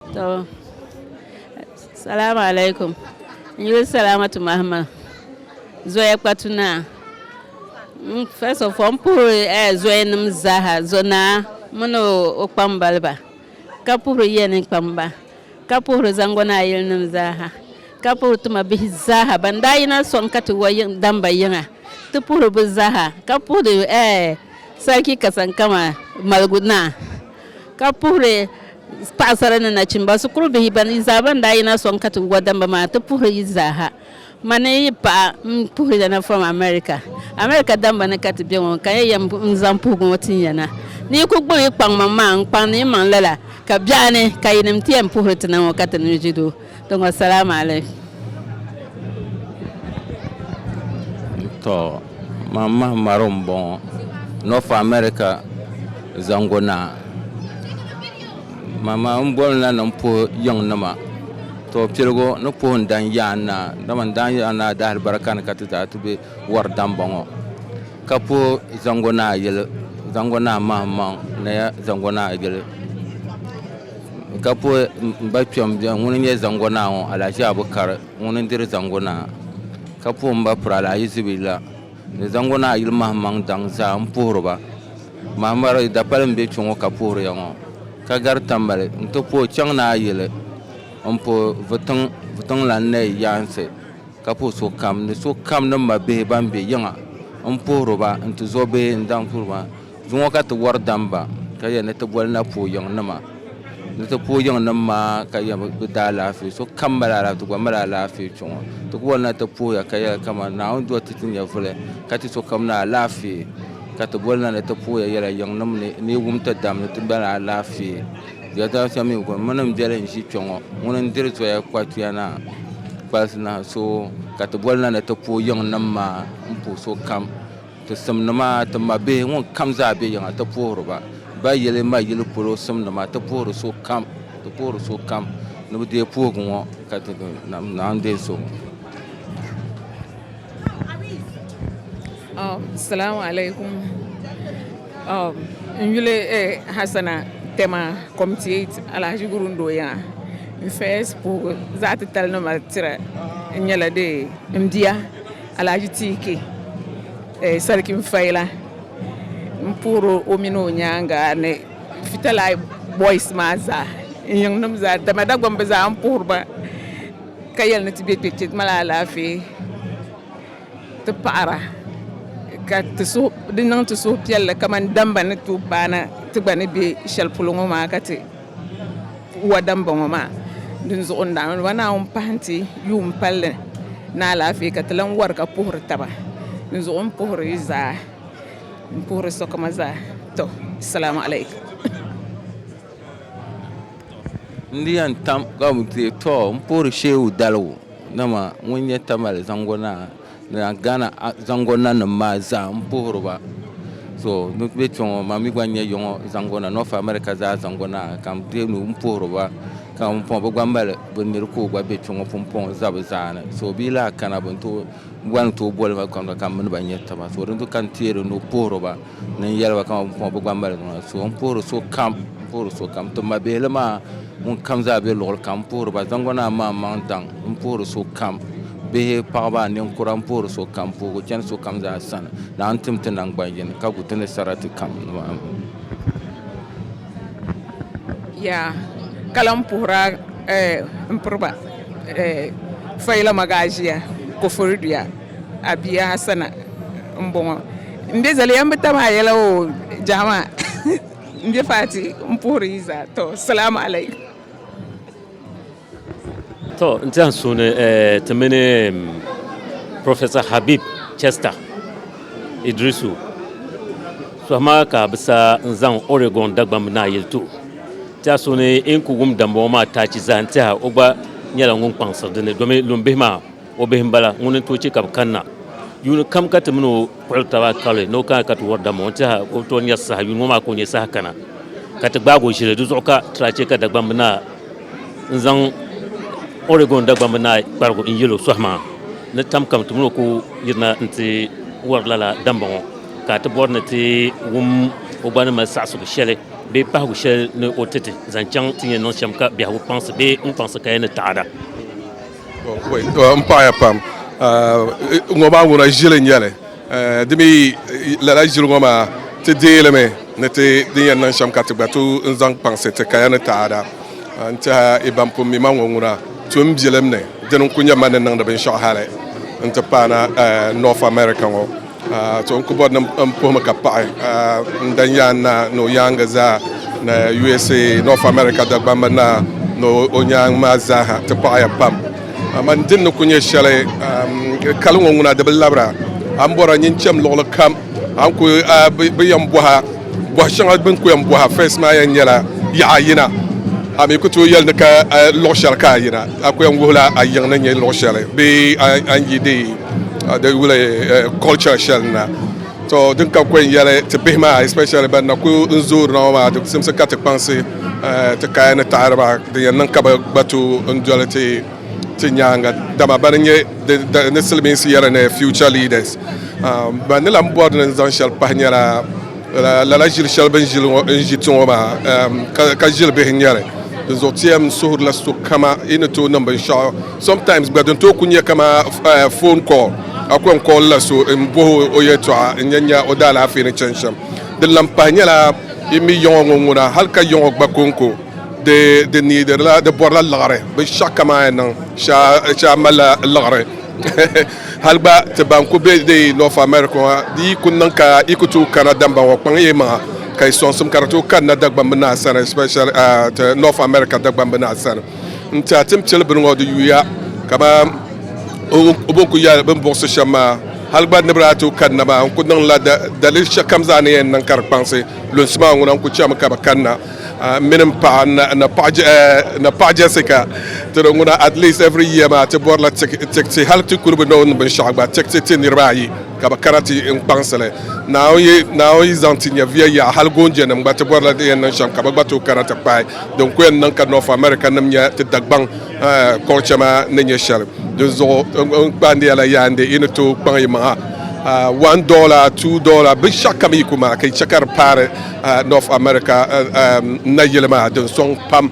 To salamu alaikum n yuli salamatu mahama zoya kpatu naa mm, first of all n puhiri eh, zoya nim zaaha zo naa mini o kpambaliba ka puhiri yiya ni kpamba ka puhiri zango naa yili nim zaaha ka puhiri tuma bihi zaaha ban daa yina soŋ ka ti wa damba yiŋa ti puhiri bi zaaha ka puhiri eh, sarki kasankama maligu naa ka puhiri paɣasara ni nachimba shikuru bihi ban yi zaa ban daa yina sɔŋ katibu wadamba maa ti puhiri yi zaaha ma ni yi paɣa m-puhiri ya na from America America damba ni ka ti be ŋɔ ka ya yɛm n-zaŋ puhigu ŋɔ tin ya na ni yi kul gbubi yi kpaŋmaŋ maa n-kpaŋdi yi maŋ lala ka biɛɣuni ka yinim ti yɛn puhiri ti na ŋɔ ka ti nuu ʒi du Tiŋɔ salaam alaikum. To man mahi maro n bɔŋɔ north America zango naa ma ma n boli na ni n puhi yiŋ nima to piligu ni puhi n dan yaan naa dama n dan yaan naa dahili barika ni ka ti daa ti be wari dan bɔŋɔ ka puhi zango naa yili zango naa mahi maŋ naya zango naa yili Ka puhi m ba kpɛm bɛn ŋuni n-nyɛ Zango Naa ŋɔ, Alahaji Abu Kari ŋuni n-diri Zango Naa. Ka puhi m ba Piraala Ayi Zibiri la ni Zango Naa yili mahimaŋ daŋ zaa m-puhiri ba. Mahimari dapali m-be kpe ŋɔ ka puhiri ya ŋɔ, ka gari Tambali n-ti puhi chaŋ Naa yili m-puhi Vutiŋ Vutiŋlan Nayi yaansi, ka puhi sokam ni sokam ni mabihi ban be yiŋa m-puhiri ba n-ti zo bihi n-daŋ puhiri ba. Zuŋɔ ka ti wari damba ka yɛli ni ti boli na puo yiŋ nima ni ti puo yiŋ nim maa ka yɛm bi daa laafee so kam mali alaafee ti gba mali alaafee chuŋɔ ti ku boli na ti puhiya ka yɛli kaman Naawuni doli ti ti nyɛvuli ka ti so kam na alaafee ka ti boli na ni ti puhiya yɛla yiŋ nim ni ni yi wum ti dam ni ti mali alaafee ya dama shɛm mi kuni mini n bɛli n ʒi kpɛ ŋɔ ŋuni n diri zoya kpatuya na kpalisi na so ka ti boli na ni ti puo yiŋ nim maa n puhi so kam Ti simnima, ti mabihi, ŋun kam zaa be yiŋa, ti puhiri ba. Ba yili ma yili polo simnima, ti puhiri so kam, ti puhiri so kam ni bi deei puhigu ŋɔ ka ti di nam naan deei so ŋɔ. Salamu alaikum. N yuli Hassana Tema Comitiate Alhaji Gurun Doya. N first puhigu zaɣi titali ni mali tira n nyɛla dee m bia. Alhaji TK Sarkin Faila m-puhiri o o mini o nyaaŋa ni Fitalai boys maa zaa ni yiŋnima zaa dama Dagbaŋ bɛ zaa m-puhiri ba ka yɛli ni ti be kpe ti mali alaafee ti paɣira ka di niŋ ti suhupiɛlli kamani damba ni tooi paana ti gba ni be shɛli polo ŋɔ maa ka ti Wada n bɔŋɔ maa din zuɣu n daan ma naawuni pahi n ti yuun palli ni alaafee ka ti lan wari ka puhiri taba din zuɣu n puhiri yi zaa n puhiri sokam zaa tɔ salaamu alaikum. N di yɛn tam ka bi ti tɔ n puhiri Shehu Daligu dama ŋun nyɛ Tamale zaŋgo naa. Daa Ghana zango nanim maa zaa n puhiri ba so ni bɛ kpɛ ŋɔ ma mi gba nyɛ yɔŋɔ zango na North America zaa zango na ka m deei nuhi m puhiri ba ka m pɔŋ bɛ gba mali bɛ niri ka o gba be kpɛ ŋɔ pumpɔŋ n za bɛ zaa ni so bɛ yi lahi kana bɛ ni tooi boli ma ka m mini ba nyɛ taba so dinzuɣu ka n teeri nuhi puhiri ba. Ni n yɛli ba kaman bukumba bi gba mali di ŋɔ. So, n puhiri sokam, n puhiri sokam. Ti mabihili maa ŋunkam zaa be luɣili kam, n puhiri ba. Zaŋgu Naa maa maŋ daŋ, n puhiri sokam. Bihi, paɣiba, ninkura, n puhiri sokam. Puhigu chani sokam zaa sani ni a ni tim ti naŋgban yini ka gu ti ni sarati kam nimaani. Yaa ka lan puhira m-piri ba fayila magaazia Koforidua. A bia Hasana m-bɔŋɔ. M be zali ya m bi tam a yɛla o jahima m be Fati m puhiri yi zaa tɔ salaamu alaikum. Tɔ n ti yan suuni ti mini Professor Habib Chester Idrisu tɔhima ka bi sa n zaŋ Oregon Dagbamb naa yeli tuhi ti a suuni e ni ku wum dambɔŋɔ maa taachi zaa n tiɛha o gba nyɛla ŋun kpaŋsiri dini domi lumbihi maa O bihi m-bala, ŋuni n-tooi chɛ ka bɛ kanna yuuni kam ka ti mini o kpuɣiri taba kali ni o kana ka ti wari dama? O ni tɛha ka o bi tooi nyari saha yuuni ŋɔ maa ka o nya saha kana ka ti gbaag o ʒili. Di zuɣu ka ti daa chɛ ka Dagbamba Naa n-zaŋ Oregon Dagbamba Naa kparigu n-yɛl o sɔhi maa ni tam kam ti mini o ku yirina nti wari lala damba ŋɔ ka a ti bɔri ni ti wum o gba ni mali saɣisigu shɛli bee pahigu shɛli ni o ti ti zaŋ chaŋ ti ni yɛn niŋ shɛm ka biɛhigu kpaŋsi bee ŋun kpaŋsi kaya ni taɣada. n paɣaya pam ŋɔ maa ŋuna ʒili n nyɛli di mi lala ʒili ŋɔ maa ti deeli mi ni ti din yɛn niŋ shɛm ka ti gba tu n zaŋ kpaŋsi ti kaya ni taada n tiɛha i ban pun mi ma ŋɔ ŋuna tu n bilim ni dini n ku nyɛ ma ni niŋdi binshɛɣu hali n ti paana North America ŋɔ So n ku bɔri ni n puhimi ka paɣi n dan yaan naa ni o yaaŋa zaa ni USA, North America Dagbamba naa ni o nyaaŋ maa zaaha ti paɣiya pam. Aman din ni ku nyɛ shɛli kali ŋɔ ŋuna di bi labira. A ni bɔra nyin cham luɣili kam a ni ku bi yɛn bɔha. Bɔhi shɛŋa bɛ ni ku yɛn bɔhi a fɛs maa yɛn nyɛla, Yaɣa a yina. A mi ku tooi yɛli ni ka a luɣ shɛli ka a yina. A ku yɛn wuhila a yiŋ ni nyɛ luɣ shɛli bee a ni yi di yuli culture shɛli na. To din ka ku yɛn yɛli ti bihi maa especially ban na ku n zoori na ŋɔ maa di simsi ka ti kpaŋsi ti kaya ni taɣiri ba din yɛn niŋ ka bɛ gba tooi n doli ti ti nyaaŋa dama bɛ ni nyɛ di ni silimiinsi yɛra ni future leaders um, ban ni lan bɔri ni zaŋ shɛli pahi nyɛla lala ʒili shɛli bɛ ni ʒi ti ŋɔ maa um, ka ʒili bihi nyɛri di zuɣu tiɛm n suhirila so kama yi ni tooi niŋ binshɛɣu sometimes gba din tooi ku nyɛ kama uh, phone call a ku yɛn call la so n bohi o yɛtɔɣa n yɛn nya o daalaafee ni chani shɛm din lan pahi nyɛla yi mi yiŋɔ ŋɔ ŋuna hali ka yiŋɔ gba konko Di di niidirila di bɔrila liɣiri bi shɛɣu kaman a niŋ shɛli a malila liɣiri hali gba ti ban ku be di North America ŋɔ di yi ku niŋ ka yi ku tooi kana damba ŋɔ kpaŋ yi maŋa ka yi sɔŋsim ka di tooi kanna Dagbamb naa sani especially ah, ti North America Dagbamb naa sani n ti a tim chili bini ŋɔ di yuya kaman o o bin ku yɛli bin buɣisi shɛm maa hali gba ni bi daa tooi kanna maa n ku niŋla da daliri shɛkam zaa ni yɛn niŋ ka di kpaŋsi lunsi maa ŋuna n ku chami ka bi kanna mini n paɣa na paɣa Jessica ti do ŋuna at least every year maa ti bɔrila tikti hali ti kuli bi noon binshɛɣu gba tikti ti niriba ayi ka bi kana ti n kpaŋsili naawuni yi zaŋ ti nyɛviya yaɣa hali goonjɛ nim gba ti bɔrila di yɛn niŋ shɛm ka bi gba tooi kana ti kpahi din ku yɛn niŋ ka north america nim nyɛ ti dagbaŋ culture maa ni nyɛ shɛli dinzuɣu n kpaandiya la yaa ndi yi ni tooi kpaŋ yi maŋa one dollar two dollar binshɛɣu kam yi ku maa ka yi chɛ ka di paari North America nayili maa din sɔŋ pam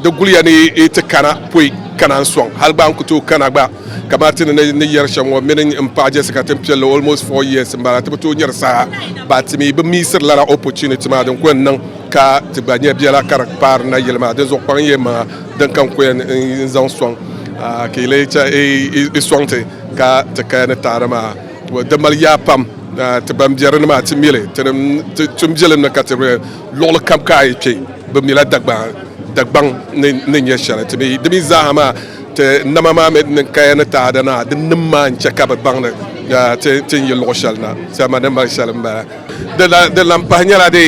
di guliya ni yi ti kana poi kana n sɔŋ hali gba n ku tooi kana gba ka Martin ni yɛri shɛm ŋɔ mini n paɣa Jessica tin piɛlli almost four years n bala ti bi tooi nyɛri saha ba ti mi bi miisiri lala opportunity maa din ku yɛn niŋ ka ti gba nyɛ biɛla ka di kpaari nayili maa din zuɣu kpaŋ yɛn maŋa din ka n ku yɛn n zaŋ sɔŋ ka yi lee chɛ i sɔŋti ka ti kaya ni taada maa Di mali yaa pam ti ban biɛri ni maa ti mili ti ni ti tum biɛlim ni ka ti be luɣili kam ka a yi kpe bi mila Dagbaŋ ni nyɛ shɛli ti mi di mi zaaha maa ti nama maa mi di niŋ kaya ni taada naa di nim maa n chɛ ka bi baŋ ni ti ni yi luɣ shɛli na salima ni mali shɛli m-bala di lan pahi nyɛla di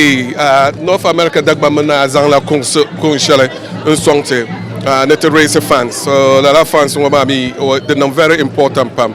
North America Dagbaŋ mi naa zaŋ la kuŋ shɛli n sɔŋ ti ni ti raise funds so lala funds ŋɔ maa mi di niŋ very important pam.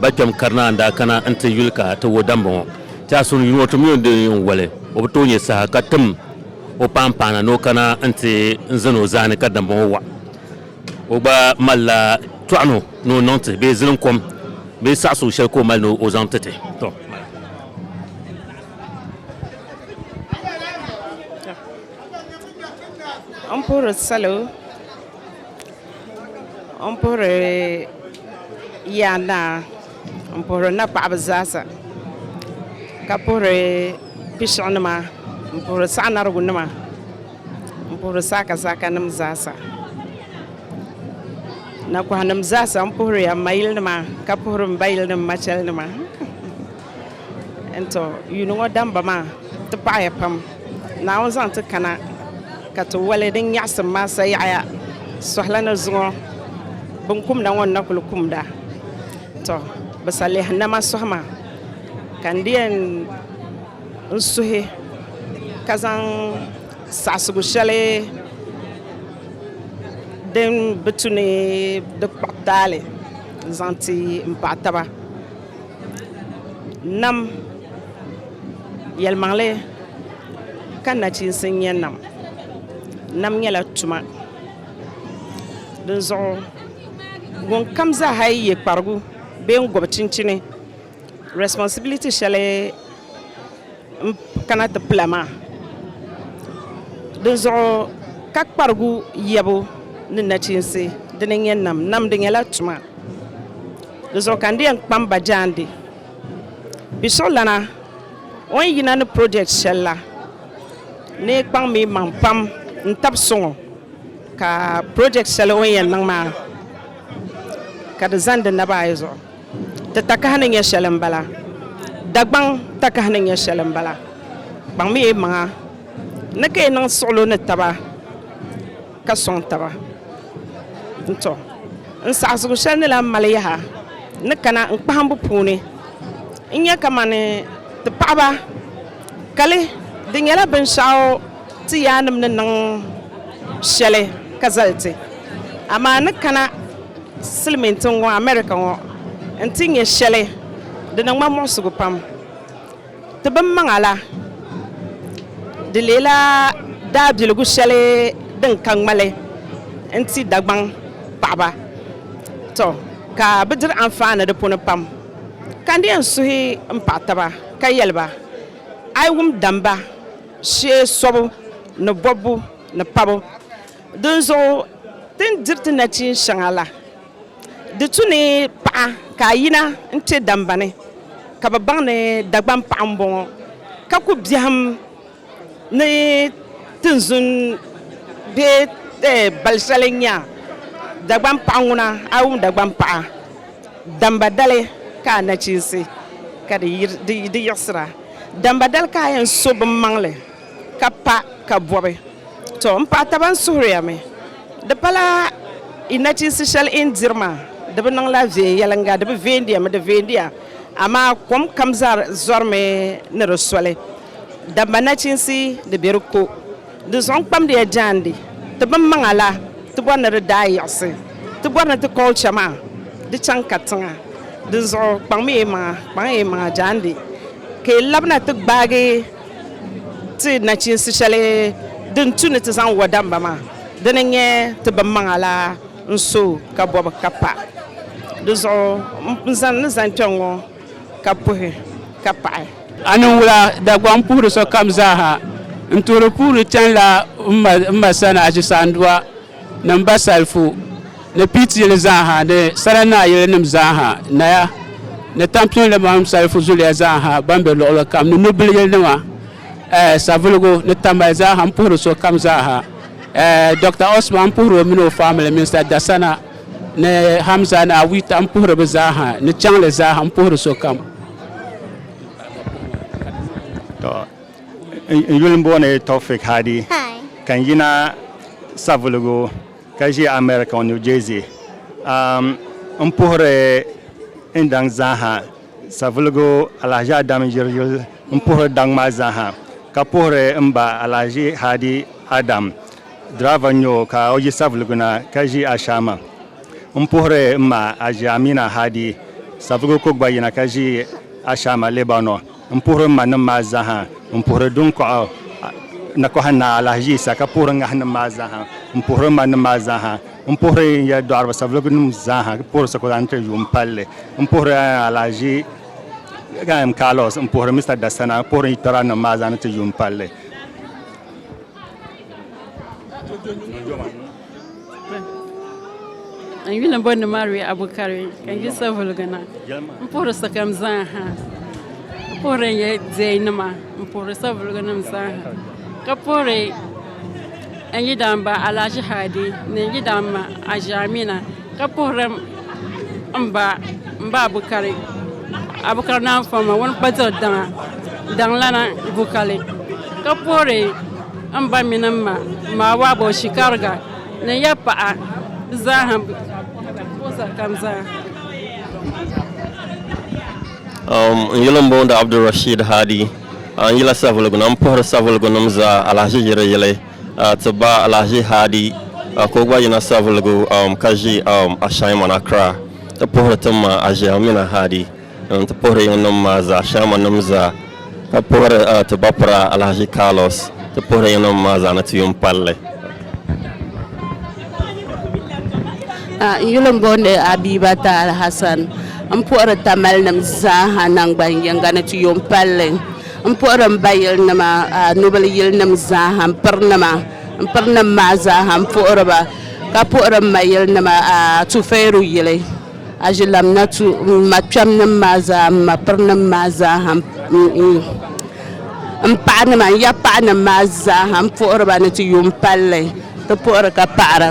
Ba kpɛm Karinaa n-daa kana n-ti yuli ka ti wo damba ŋɔ. Ti a suhuyuli ŋɔ, ti mi o ni di yɛn woli o bi tooi nyɛ saha ka tim o paanpaana ni o kana n-ti n zani o zaa ni ka damba ŋɔ waɣi. O gba malila tɔɣino ni o niŋ ti bee ziliŋ kom bee saɣi suhu shɛli ka o mali ni o zaŋ ti ti. Tɔ! M puhiri salo. N puhiri ya naa n puhiri na paɣaba zaasa ka puhiri pishɛɣu nima n puhiri saɣi narigu nima n puhiri saaka saaka nim zaasa na kɔhi nim zaasa n puhiri ya n ma yili nima ka puhiri m ba yili nima machɛli nima N to yuuni ŋɔ damba maa ti paɣiya pam, Naawuni zaŋ ti kana ka ti wali din nyaɣisim maa sayaɣiya suhila ni zuŋɔ binkumda ŋɔ ni-na kuli kumda tɔ bɛ salihi nama suhi maa ka n di yɛn n suhi ka zaŋ saɣisigu shɛli din bi tu ni di kpuɣi taali n-zaŋ ti m paɣa taba. Nam yɛlimaŋli ka nachiinsi nyɛ nam. Nam nyɛla tuma dinzuɣu ŋun kam zaaha yi yɛ kparigu bee n gɔbi chinchini responsibility shɛli n kana ti pula maa dinzuɣu ka kparigu yɛbu ni nachiinsi dini n nyɛ nam. Nam di nyɛla tuma. Di zuɣu ka n di yɛn kpam ba jaande bɛ suhulana o ni yina ni project shɛli la ni kpaŋ mi maŋ pam n tab suŋ o ka project shɛli o ni yɛn niŋ maa ka di zani di naba ayi zuɣu ti takahi ni nyɛ shɛli m-bala Dagbaŋ takahi ni nyɛ shɛli m-bala kpaŋ mi yi maŋa ni ka yi niŋ suɣulo ni taba ka sɔŋ taba n-tɔ n saɣisigu shɛli ni lan mali yaha ni kana n kpahimbu puuni n-nyɛ kamani ti paɣiba kali di nyɛla binshɛɣu ti yaannim ni niŋ shɛli ka zali ti amaa ni kana silimiintiŋ ŋɔ America ŋɔ n ti nyɛ shɛli di niŋ ma muɣisigu pam. Ti bimmaŋa la, di leela daabiligu shɛli din ka ŋmali n-ti Dagbaŋ paɣiba, tɔ ka bɛ diri anfaani di puuni pam. Ka n di yɛn suhi m paɣ taba ka yɛli ba, A yi wum damba shee sɔbu ni bɔbbu ni pabu, dinzuɣu ti ni diri ti nachin shɛŋa la, Di tu ni paɣa ka a yina n-kpe dambani ka bɛ baŋ ni Dagbaŋ paɣa m-bɔŋɔ ka ku biɛhim ni tinzun bee bal shɛli n-nya Dagbaŋ paɣa ŋuna. A yi wum Dagbaŋ paɣa damba dali ka a nachiinsi ka di yiɣisira. Damba dali ka a yɛn so biŋmaŋli. ka pa ka bɔbi to m paɣa taba n suhiriya mi di pala yi nachiinsi shɛli yi ni diri maa di bi niŋla viɛnyɛliŋga di bi viɛndiya mi di viɛndiya amaa kom kam zaa zɔrimi ni di soli dama nachiinsi di be di ko di zuɣu n kpamdiya jaandi ti binmaŋa la ti bɔri ni di daa yiɣisi ti bɔri ni ti culture maa di chaŋ katiŋa dinzuɣu kpaŋmiya yi maŋa kpaŋiya yi maŋa jaandi ka yi labina ti gbaagi Ti nachinsi shɛli din tu ni ti zaŋ wa damba maa, dini n-nyɛ ti bimmaŋa la n-so ka bɔbi ka pa. Di zuɣu n zani ni zani kpɛŋ ŋɔ ka puhi ka paɣi. A ni wula Dagbaŋ puhiri sokam zaa ha, n-tuhiri puhiri chanila m ma sani Achisaandua. ni m ba Salifu, ni Piit yili zaaha, ni Sara Naa yilinim zaaha, Naya ni Tampinolimaŋ Salifu zuliya zaaha ban be luɣili kam, ni Nubili yilinima, ɛɛh, Savelugu ni Tambali zaaha, m puhiri sokam zaaha, ɛɛh, Dɔkta Osman m puhiri o mini o famili, Minista Dasana ni Hamza ni Awita m puhiri bɛ zaaha, ni Chaŋli zaaha m puhiri sokam. N yuli m-booni Tawfiq Hadi ka n yina Savelugu ka ʒi America New Jersey. M puhiri n daŋ zaaha Savelugu Alahaji Adam Yiri yuli m puhiri daŋ maa zaaha ka puhiri m ba Alahaji Hadi Adam driver n-nyɛ o ka o yi Savelugu na ka ʒi Ashama. M puhiri m ma Aji Amina Hadi Savelugu ka o gba yina ka ʒi Ashama Lebanon. N puhiri m manim maa zaaha, n puhiri duŋkɔɣu nakɔha Naa Alahaji-Yisa ka puhiri ŋahinim maa zaaha, m puhiri m manim maa zaaha, m puhiri n ya dɔɣiriba Saviligunim zaaha ka puhiri Sokola Nti yuun palli, m puhiri Alahaji M. Carlos, m puhiri Mr Dasana ka puhiri n yitɔra nim maa zaa ni ti yuun palli. N yuli bɔ ni Mary Abukari ka n yisa vuligina n puhiri sokam zaa ha n puhiri n yɛ diɛi nima n puhiri savuligu nim zaa ha ka puhiri n yidana ba Alhaji Hadi ni n yidana ma Haji Amina Ka puhiri m ba m ba Bukari Abukar Naan Fɔmma ŋun kpa diɣi daŋa daŋlana Bukali ka puhiri m ba mini m ma Maawaabo Shikariga ni ya paɣa di zaaha m puhi sari kam zaa. N yuli n booni Abdul Rashiid Haadi a n yila Savelugu na m puhiri Savelugu nim zaa alahiʒi yili yili. A ti ba Alhaji Hadi ka o gba yina Savelugu ka ʒi Ashaiman Accra ti puhiri ti ma Aʒiamina Hadi n-ti puhiri yiŋnim maa zaa, Ashaiman nim zaa, ka puhiri ti ba pura Alhaji Carlos ti puhiri yiŋnim maa zaa ni ti yuun pali li. A N yuli n booni Abibata Alhassan m-puhiri Tamalinim zaa ha naŋgban yiŋga ni ti yuun pali li. M puhiri m ba yilinima nubili yilinim zaaha m pirinima m pirinim maa zaaha m puhiri ba ka puhiri m ma yilinima Tufeeru yili Aʒilamna tu m ma kpɛmnim maa zaa m ma pirinim maa zaaha m paɣanima n ya paɣanim maa zaaha m puhiri ba ni ti yuun palli ti puhiri ka paɣara.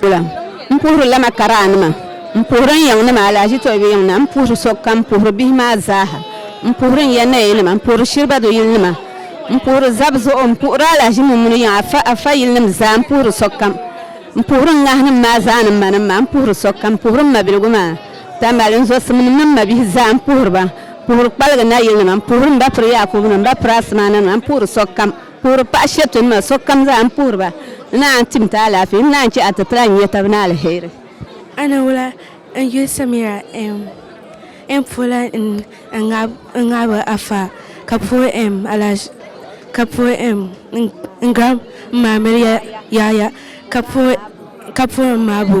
Kula n puhiri lama karaanima n puhiri n yiŋnima alahaji Toybi yiŋ na n puhiri sokam n puhiri bihi maa zaaha n puhiri n ya nayanima n puhiri Shiriba do yilinima n puhiri zab zuɣu n puhiri alahaji Mummuni yiŋ afa afa yilinim zaa n puhiri sokam n puhiri n ŋahinim maa zaa ni m manim maa n puhiri sokam n puhiri m mabiligu maa Tambali n zɔsimnim ni m mabihi zaa m puhiri ba Puhiri kpaligi nayilinima, m-puhiri m ba piri Yaakubu ni m ba piri asimaananima, m-puhiri sokam. Puhiri paɣ shɛtinima, sokam zaa m-puhiri ba. N naa n-tim ti alaafee, n naa n-chɛ a ti ti a n-nya tab ni aliheri. A ni wula n yuli Samira ɛɛm n puhila n ŋabi a faa ka puhi ɛɛm alaaz ka puhi ɛɛm n giraam maa mili ya yaaya ka puhi ka puhi n maabo.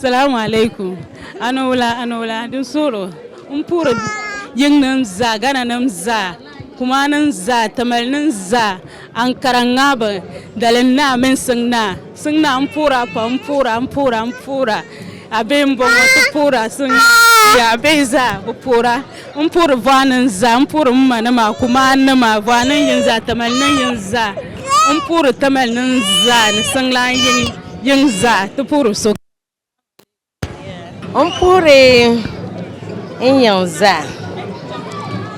Salamu alaikum anowula anowula din sooro n puhiri yiŋ nim zaa gana nim zaa kumaa nim zaa tamale nim zaa ankara ŋabu dalim naa mini siŋ naa siŋ naa n puhira pam n puhira n puhira n puhira a bihi n bɔŋɔ ti puhira siŋ naa yaa a bihi zaa bi puhira. N puhiri vɔanin zaa, n puhiri m ma ni ma kumaa nima vɔanin yin zaa, tamali nin yin zaa, n puhiri tamali nin zaa ni siŋlaan yin yin zaa ti puhiri so. N puhiri n yin zaa,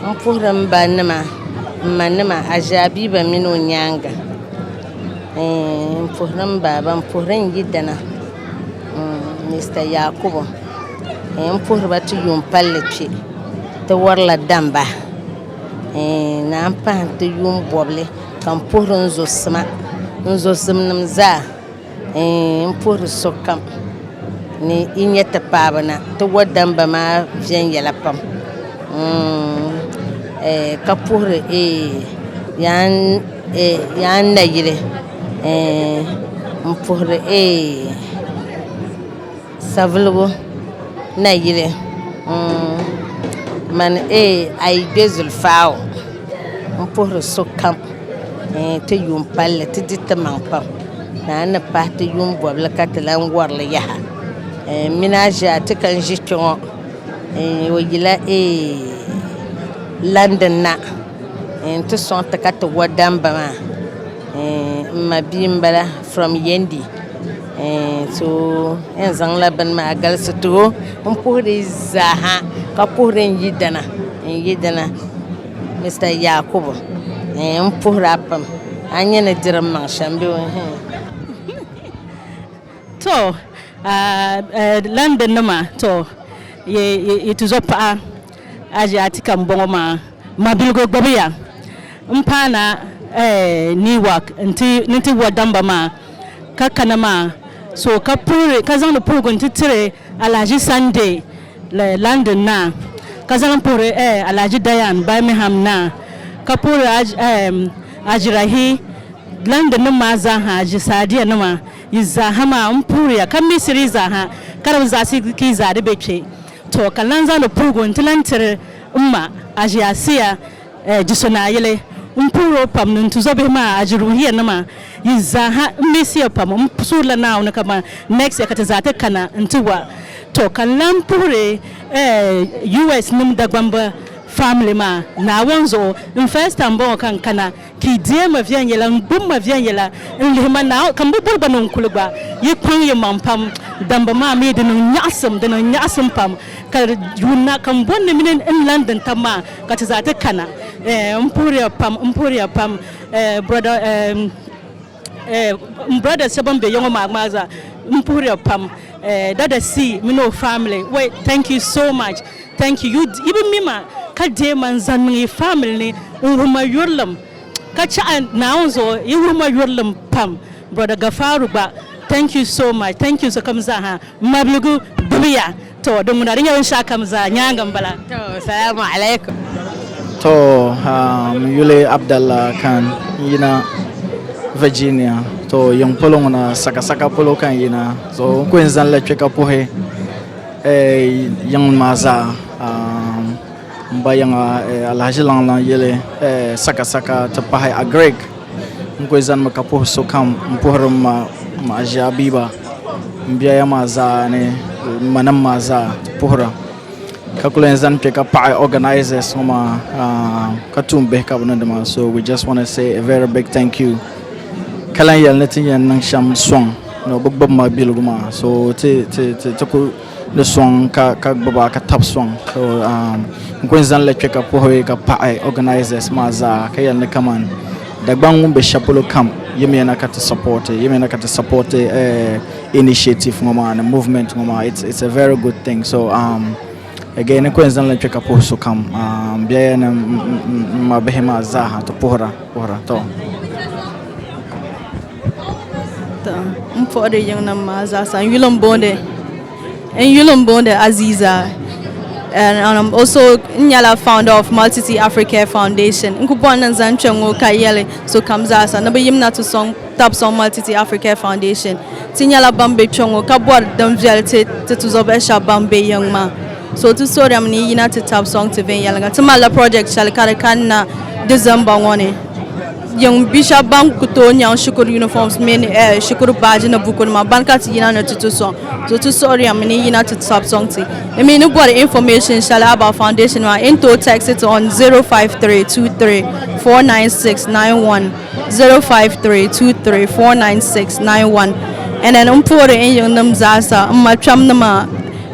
n puhiri m ba nima, m ma nima, Aʒaabiba mini o nyaaŋa, n puhiri m baaba, n puhiri n yidana. Mister Yakubu eh, n puhiri ba ti yuun palli kpe ti warila damba eh, naan pahi n ti yuun bɔbili ka n puhiri n zo sima n zo zimnim zaa eh, n puhiri sokam ni yi nya ti paaba na ti wa damba maa viɛnyɛla pam mm, eh, ka puhiri eh, yaan eh, yaan nayili Eeh n puhiri eeh saviligu nayili mm mani eeh ayi kpe zulifaa o m puhiri sokam eeh ti yuun palli ti di timaŋ pam naan ni pahi ti yuun bɔbili ka ti lan warili yaha eeh m mini a ʒiya a ti ka n ʒi kpe ŋɔ eeh o yila eeh London na eeh n ti sɔŋ ti ka ti wa damba maa. Eh, n ma bia n bala from yendi eh, so en zaŋla bini maa galisi too n puhiri zaaha ka puhiri n yidana n yidana mr yakubu eh, n puhira pam a nyɛ ni diri maŋ shɛm bɛ hmm. to uh, uh, london nima to ye, ye, ye tuzo paɣa Aji Atika m bɔŋɔ maa mabiligu gbubiya m paana Newark ni ti wa damba maa ka kana maa so ka puhiri ka zaŋdi puhigu n ti tiri Alahaji Sunday London naa ka zaŋli puhiri Alahaji Dayan Birmingham naa ka puhiri Aji Rahi London nim maa zaa ha Aji Sadiya nima yi zaa ha maa m puhiriya ka misiri yi zaa ha ka di bi zaɣisi ka yi zaa di be kpe Tɔ! Ka n lan zaŋ di puhigu nti lan tiri m ma Aʒiasia, eh, Jiso Naa yili. M puhir o pam ni n tuzɔ bihi maa Aʒiruhiya nima yi zaa ha. M miisi ya pam. M suhirila Naawuni ka ban next year ka ti zaa ti kana nti wa. Tɔ! Ka n lan puhiri, eh, US nim Dagbamba family maa Naawuni zuɣu. N first time m-bɔŋɔ ka n kana. Ka yi deei ma viɛnyɛla, n-gbib ma viɛnyɛla, n-lihi ma Naawuni, ka m bi bɔri gba ni n kul gba. Yi kpaŋ yimaŋ pam dambu maa mi di niŋ nyaɣisim, di niŋ nyaɣisim pam, ka di yuuna ka m bɔri ni mini n lan di n tab maa, ka ti zaa ti kana. Eh, m puhiri ya pam, m puhiri ya pam, eh, Brɔda, eh. Eh, m brother so ban be ya ŋɔ maa gmaa zaa m puhiriya pam eh, dada C mini o family way thank you so much thank you you yi bi mi ma ka deei ma n zaŋ niŋ yi family ni n wuhi ma yurilim ka chahi Naawuni zuɣu yi wuhi ma yurilim pam brother Gafaru gba thank you so much thank you sokam zaa ha m mabiligu gbubi ya Too, di ŋuna di nyɛ binshɛɣu kam zaa nyaaŋa m-bala. Too, salaamu alaikum. Too, ha, m yuli Abdalla Khan n-yina Virginia. Too, yiŋ polo ŋuna, Sakasaka polo ka n yina. So, n ku yɛn zanila kpe ka puhi, eh, yiŋ maa zaa. Aam. M ba yiŋa eh, Alhaji Laŋlaŋ yeli eh, saka saka ti pahi a Greg n kuli zanimi ka puhi so kam m puhiri m ma m ma Aʒia Abiba m biɛya maa zaa ni m ma nim maa zaa ti puhira ka kuli yɛn zani kpe ka paɣi organisers ŋɔ maa ah, ka tuun bihi ka bɛ niŋdi maa so we just wanna say a very big thank you ka lan yɛli ni ti yɛn niŋ shɛm sɔŋ ni o bi gbubi ma biligu maa so ti ti ti ti kuli di sɔŋ ka ka gbuba ka tab sɔŋ so um, n kuli zaŋla kpe ka puhi ka paɣi organisers maa zaa ka yɛli ni kaman Dagbaŋ ŋun be shɛli polo kam yimiya na ka ti support yimiya na ka ti support eh, initiative ŋɔ maa ni movement ŋɔ maa it's, it's a very good thing so um, again n kuli zaŋla kpe ka puhi sokam um, biɛya ni m- m- m- m ma bihi maa zaaha ti puhira puhira to N puɣiri yiŋnim maa zaasa n yuli n booni n yuli n booni Aziiza o so n nyɛla faanda oof maltiti afirika faandashin n ku bɔŋ ni n zaŋ kpɛ ŋɔ ka yɛli sokam zaa sa ni bi yimina ti sɔŋ tabi sɔŋ maltiti afirika faandashin ti nyɛla ban bɛ kpɛ ŋɔ ka bɔri din viɛli ti ti tuzɔbihi shɛba ban bɛ yiŋ maa so ti soorimi ni yi yina ti tabi sɔŋ ti viɛnyɛliŋga ti malila pirɔjɛt shɛli ka di kanna disemba ŋɔ ni Yiŋ bia shɛba ban ku tooi nyaŋ shikuru uniforms mini eh, shikuru baaji ni bukunima bani ka ti yina ni ti ti sɔŋ so ti suhiriya mi ni yina ti ti sabi sɔŋ ti. Di mi ni bɔri information shɛli about foundation maa in tooi text it on 0532349691, 0532349691 and then m puhiri n yiŋ nim zaasa m ma kpɛm nima,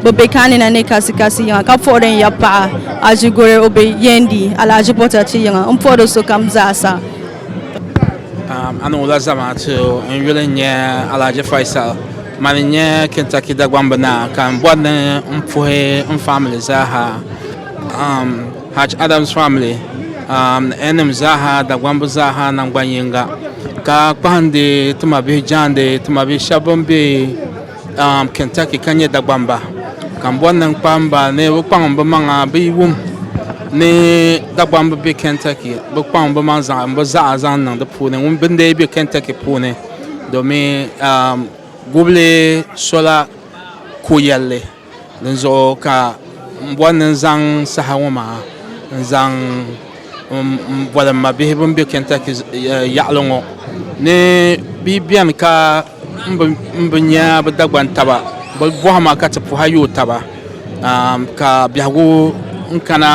Bɛ be Kanina ni kasi kasi yiŋa, ka puɣiri n ya paɣa Aji Gore o be yɛn di alahaji bota ti yiŋa, n puɣiri sokam zaa sa. Paɣa anu la zamaatu n yuli n-nyɛ Alahaji Faisal, man n nyɛ Kentucky Dagbamb naa ka n bɔri ni n puhi n family zaa ha, Haj Adams family, N nim zaa ha, Dagbamb zaa ha nangban yiŋga, ka kpahindi ti mabihi jaandi ti mabihi shɛba bɛn be um, Kentucky ka nyɛ Dagbamba kambɔri ni n-kpamba ni bɛ kpaŋ bɛ maŋa bɛ yi wum ni Dagbamba be Kentucky bɛ kpaŋ bɛ maŋ zaŋ bɛ zaɣa zaŋ niŋ di puuni ŋun bɛ n-dee be Kentucky puuni domin um, gubili sola ko'yɛlli. Dinzuɣu ka m bɔri ni n zaŋ saha ŋɔ maa n-zaŋ m-bɔri m mabihi bɛn be Kentucky yaɣili ŋɔ ni bɛ yi beni ka m bi nya bɛ Dagban taba, bɛ bɔhima ka ti puhi a yooi taba ka biɛhigu n-kana.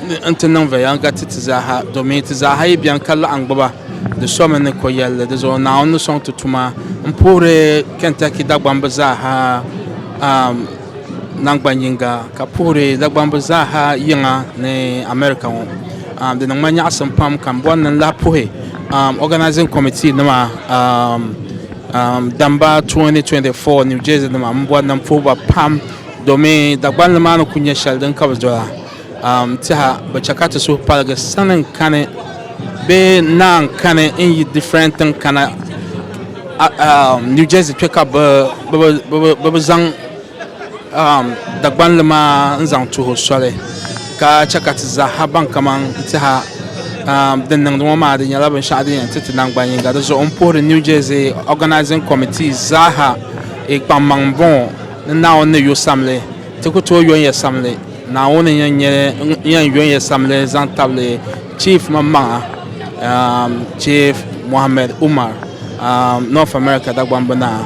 ni n ti niŋ viɛnyɛliŋga ti ti zaaha, domin ti zaaha yi beni ka laɣim gbuba, di somi ni ko'yɛlli. Di zuɣu Naawuni ni sɔŋ ti tuma. M puhiri Kentucky Dagbamb zaaha naŋgban yiŋga, ka puhiri Dagbamb zaaha yiŋa ni America ŋɔ. Di niŋ ma nyaɣisim pam ka m bɔri ni n lahi puhi Organizing Committee nima damba 2024 New Jersey nima m bɔri ni m puhi ba pam. Domi Dagbanli maa ni ku nyɛ shɛli din ka bi doli a, n tiɛha bi chɛ ka ti suhu paligi sani n kani bee naa n kani n yi different tiŋ kana New Jersey kpɛ ka bɛ bi zaŋ Dagbanli maa n zaŋ tuhi o soli ka chɛ ka ti zaaha baŋ kaman n tiɛha din niŋdi ŋɔ maa di nyɛla binshɛɣu din yɛn ti ti naŋgban yiŋga. Di zuɣu m puhiri New Jersey Organizing Committee zaaha kpaŋmaŋ m-bɔŋɔ. Ni Naawuni ni yo samli, ti ku tooi yo n-yɛ samli. Naawuni n-yɛn nyɛ ŋun yɛn yo n-yɛ samli zaŋ tabili Chief maŋmaŋa, Chief Mohammed Umar, North America Dagbamb Naa,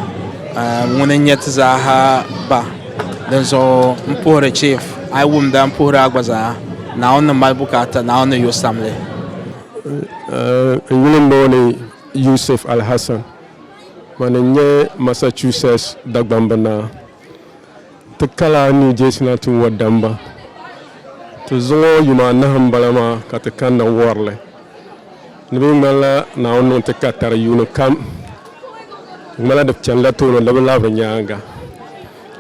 ŋuni n-nyɛ ti zaaha Ba. Dinzuɣu m puhiri Chief, a yi wumda m puhiri a gba zaa, Naawuni ni mali bukaata, Naawuni ni yo samli. N yuli m-booni Yusuf Al-Hassan. Mani n-nyɛ Massachusetts Dagbamba naa. Ti kala New Jersey na ti wa damba. Ti zuŋ o yuma anahi m-bala maa ka ti kanna wari li. Di mi ŋmanila Naawuni niŋ ti ka tari yuuni kam. Di ŋmanila di chani la tooni di bi labiri nyaaŋa.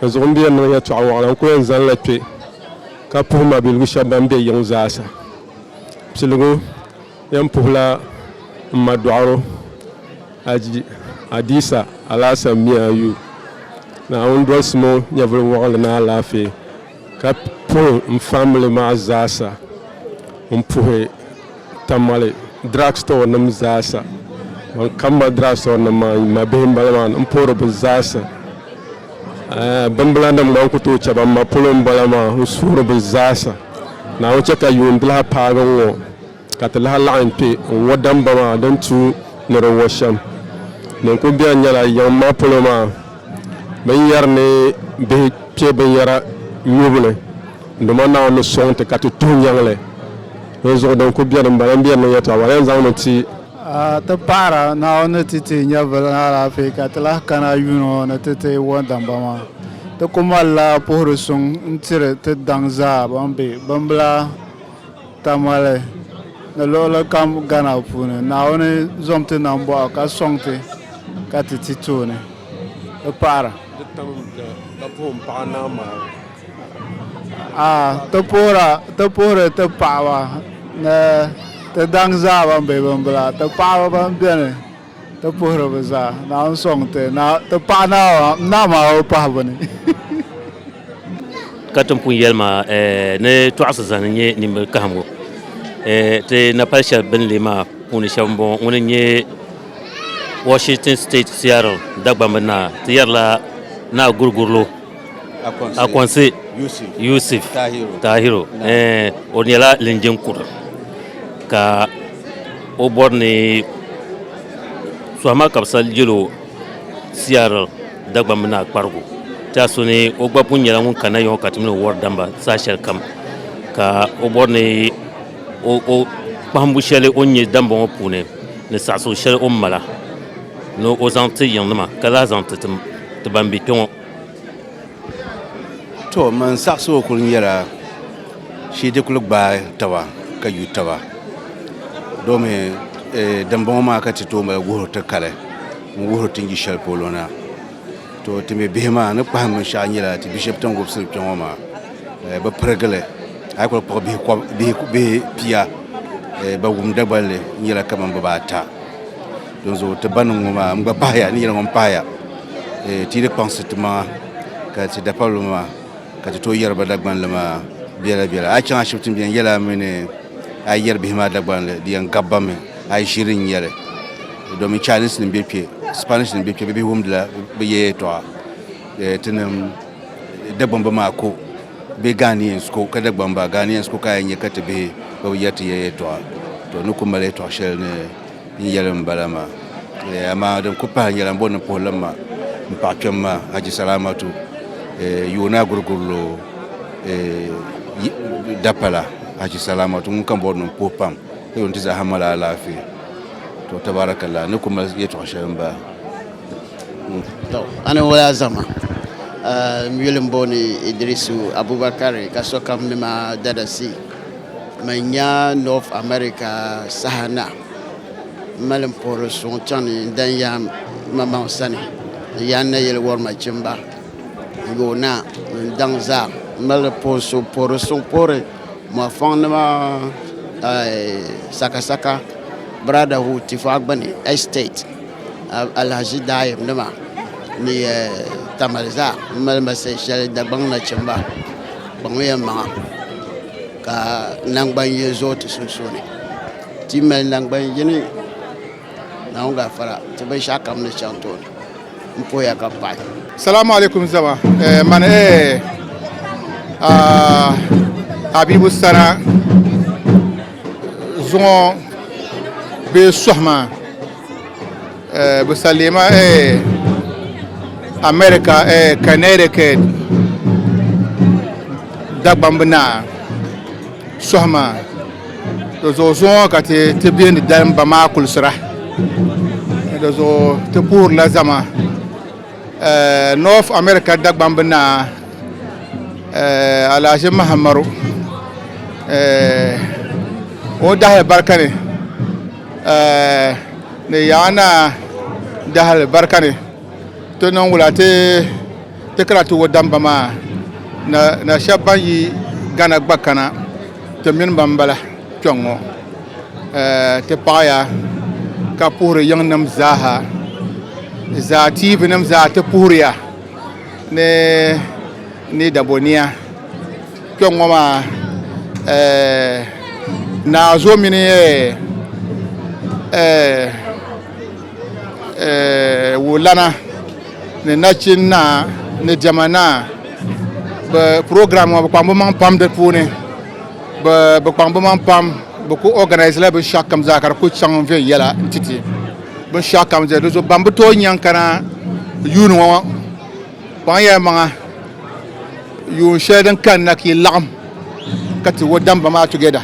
Di zuɣu m-be yɛn niŋ yɛtɔɣ wɔɣila n-ku yɛn zani la kpe ka puhi mabiligu shɛba ban be yiŋ zaa sa piligu. Yɛn puhila m ma dɔɣiro, Haji Adisa Alasan Mia Ayu. Naawuni dolisim o nyɛvili wɔɣinli ni alaafee, ka puhi m family maa zaasa. N puhi Tamale drug store nim zaasa. Ban ka m ma drug store nim maa n ma bihi m bala maa ni. M puhiri bɛ zaasa. Bimbila nim gba n ku tooi chɛ ba m ma polo m bala maa. N suhiri bɛ zaasa. Naawuni chɛ ka yuun doliha paagi n ŋɔ. Ka ti lahi laɣim kpe n-ŋɔ damba maa din tuui ni di ŋɔ shɛm din kul beni nyɛla yiŋ maa polo maa bɛn yɛri ni bihi kpe binyɛra nyubu ni Duuma Naawuni ni sɔŋ ti ka ti tuhi nyaŋ li. Dinzuɣu din kul beni m-bala m-be di ni yɛtɔɣa maa yɛn zaŋmi ti. A ti paɣira Naawuni ni ti teei nyɛvili ni alaafee ka ti lahi kana a yuuni ŋɔ ni ti teei ŋɔ damba maa. Ti kul malila puhiri suŋ n-tiri ti daŋ zaa bɛn be bimbila. Tamale ni luɣili kam Ghana puuni, Naawuni zom ti nam bɔɣu ka sɔŋ ti ka ti ti tooni di paɣira. Di tam n-ti ka puhim paɣa naa maa. A ti puhira ti puhiri ti paɣaba ni ti daŋ zaa ban be bimbila, ti paɣaba ban beni. Ti puhiri bɛ zaa, naa n-sɔŋ ti. Naa, ti paɣi naa maa, m naa maa o pahi bini. Ka ti ni pun yɛli maa ni tɔɣisi zani n-nyɛ nimbili kahim ŋɔ, ti napali shɛli bɛ ni leei maa puuni shɛba m-bɔŋɔ, ŋuni n-nyɛ Washington State Seattle Dagbamb Naa, ti yɛrila Naa Gurigurilo. Akonsi Yusuf Tahiru o nyɛla linjin kura ka o bɔri ni suhama ka bi sali yɛlo CR Dagban mini Akparigu tɛha so ni o gba pun nyɛla ŋun kana yɔɔ ka ti mini o wɔri damba saha shɛli kam ka o bɔri ni kpahimbu shɛli o ni nyɛ damba ŋɔ puuni ni saɣisigu shɛli o ni mala ni o zaŋ ti yiŋnima ka lahi zaŋ ti ban bɛ kpɛ ŋɔ. To man saɣisigu kuli nyɛla shee ti kuli gbaai taba ka yu taba domi eh, dimbɔŋɔ maa ka ti tooi mali wuhiri ti kali n wuhiri ti ni yi shɛli polo na to ti mi bihi maa ni kpahim binshɛɣu nyɛla ti bia shɛba ti ni wubisiri kpɛ ŋɔ maa eh, bi pirigili a yi kuli kpuɣi bihi kɔb- bihi bihi pia eh, ba wum dagballi nyɛla kamani bibaata Donso ti baniŋ ŋɔ maa, n gba pahaya ni yɛli ŋɔ m-pahaya eh, ti yi di kpaŋsi ti maŋa ka ti dapabili maa ka ti tooi yɛri ba Dagbanli maa biɛla biɛla. A yi chaŋ ashibiti m-beni yɛli a mi ni a yi yɛri bihi maa Dagbanli di yɛn gabi ba mi a yi ʒiri n-yɛli domin Chinese nim be kpe, Spanish nim be kpe bɛ bihi wumdila bɛ ya yɛltɔɣa eh, ti niŋ Dagbamba maa ko bee Ghanaians ko ka Dagbamba Ghanaians ko ka a yɛn nya ka ti bihi gba bi yɛri ti ya yɛltɔɣa to ni ku mali yɛltɔɣ shɛli ni N yɛli n bala maa. Eh, amaa din ku pahi nyɛla m bo nimpuhilim maa m paɣa kpɛm maa, Haji Salaamatu, eh, yooni Agurigurilo, eh, Dapala, Haji Salaamatu ŋun ka bɔri ni m puhi pam ka yo nti zaa ha mali alaafee. To, tabaarakallaa, n ni ku mali yɛtɔɣ shɛli m baa. To, a ni wali a zama. Eh, m yuli m bo ni Idirisu Abubakari ka sokam ni ma dada si. Mani nya North America saha na, m mali m puhiri suŋ chaŋ ni n dan yaai mamaŋ sani n yaa n nayili wɔri nachimba yoona ni n daŋ zaa. M mali puhiri suŋ puhiri mɔfɔŋnima sakasaka brotherhood Tifagbuni Estate Alahaji Daayim nima ni Tamale zaa m mali ma sali shɛli Dagbaŋ nachimba. Kpaŋmi ya maŋa, ka naŋgban ye zuɣu ti sunsuuni. Ti mali naŋgban yini, Naawuni gafara, ti binshɛɣu kam ni chaŋ tooni. M poya ka paɣi. Salamu alaikum zama eh, man eh ah, Habibu Sana zuŋɔ bee sohi maa. eh, bɛ salima eh, America eh, Connecticut dagbambi naa sɔhima di zuɣu zuŋɔ ka ti ti biendi dalimba maa kulisira di zuɣu ti puhirila zama eh, North America dagbambi naa eh, Alhaji Mahamaru eh, o dahi barika ni ni yaa naa dahali barika ni ti niŋ wula ti ti kana ti wo damba maa na na shɛba ban yi gana gba kana ti mini ba m-bala kpɛŋ ŋɔ ti paɣiya ka puhiri yiŋnim zaaha zaa tiivinima zaa ti puhiriya ni ni dabɔnia Kpɛŋŋɔ maa naa zo mini wulana ni nachin naa ni diɛma naa bɛ program ŋɔ bɛ kpaŋ bɛ maŋ pam di puuni bɛ kpaŋ bɛ maŋ pam bɛ kuli organise la binshɛɣu kam zaa ka di kuli chaŋ viɛnyɛla n-ti ti binshɛɣu kam zaa di zuɣu ban bi tooi nya n-kana yuuni ŋɔ Kpaŋya maŋa yuun shɛli din kanna ka yi laɣim ka ti wodamba maa together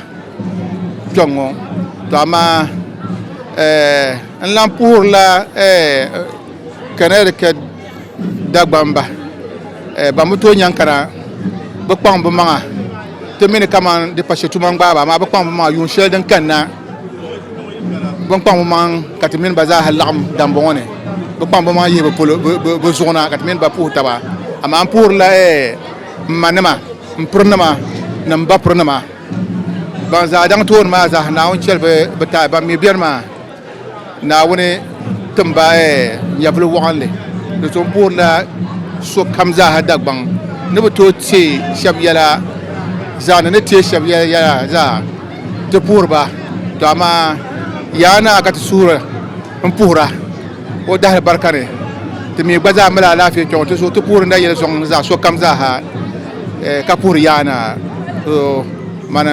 kpɛŋŋo. To amaa eh, n lan puhirila eh, Connecticut Dagbamba eh, ban bi tooi nyaŋ kana bi kpaŋ bi maŋa ti mi ni kaman di pa shɛtuma n-gbaai ba, amaa bi kpaŋ bi maŋa yuun shɛli din kanna. bin kpaŋ bi maŋ ka ti mini ba zaaha laɣam dambɔŋɔ ni bi kpaŋ bi maŋ yihi bi zuɣu na ka ti mini ba puhi taba amaa n puhurila n ma nima n piri nima ni n ba piri nima ban zaa daŋ tooni maa zaaha naawuni chɛli bi taai ban mii biɛni maa naawuni timba nyɛvuli waɣanli di so n puhurila sokam zaaha dagbaŋ ni bi tooi tee shab yɛla zaa ni ni tee shab yɛla zaa ti puhiri ba, tɔ amaa Yaa Naa ka ti suhiri m-puhira O dahili barika ni. Ti mi gba zaa mali alaafee kpiɔŋɔ ti zuɣu ti puhiri na yɛli sɔŋ ni zaɣ sokam zaa ha ka puhiri Yaa Naa. So mani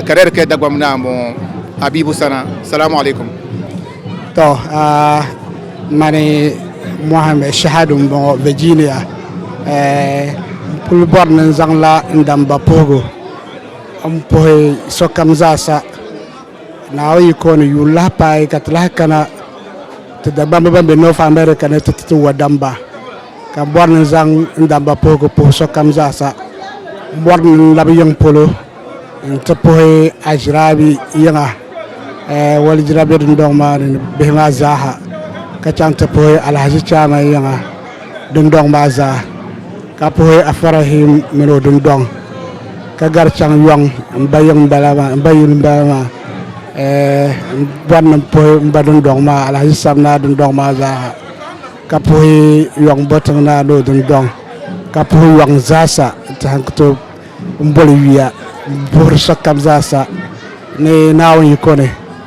Kɛrɛrikɛ Dagbaŋ Naa m-bɔŋɔ Habibu Sana. Salamu alaikum. Tɔ mani Mohammed Shahadu m-bɔŋɔ Virginia. N kuli bɔri ni n zaŋla n damba puhigu. N puhi sokam zaasa Naawuni yiko ni yuun lahi paai ka ti lahi kana ti Dagbamba ban be North America ni ti ti ti wadamba ka m bɔri ni n zaŋ n damba puhigu puhi sokam zaasa. M bɔri ni n labi yiŋ polo nti puhi Ashiraabi yiŋa ɛɛh walijira be dindɔŋ maa ni ni bihi maa zaaha ka chaŋ ti puhi Alhaji Chairman yiŋa. dundɔŋ maa zaa ka puhi Afarahim min o dundɔŋ ka gari chaŋ yɔŋ m ba yiŋ bala maa m ba yuli bala maa eh, n bɔri ni m puhi m ba dundɔŋ maa Alhaji Sab naa dundɔŋ maa zaa ha ka puhi yɔŋ Botiŋ naa ni o dundɔŋ ka puhi yɔŋ zaasa ti han ku tooi m boli yuya m puhiri sokam zaasa ni Naawuni yiko ni.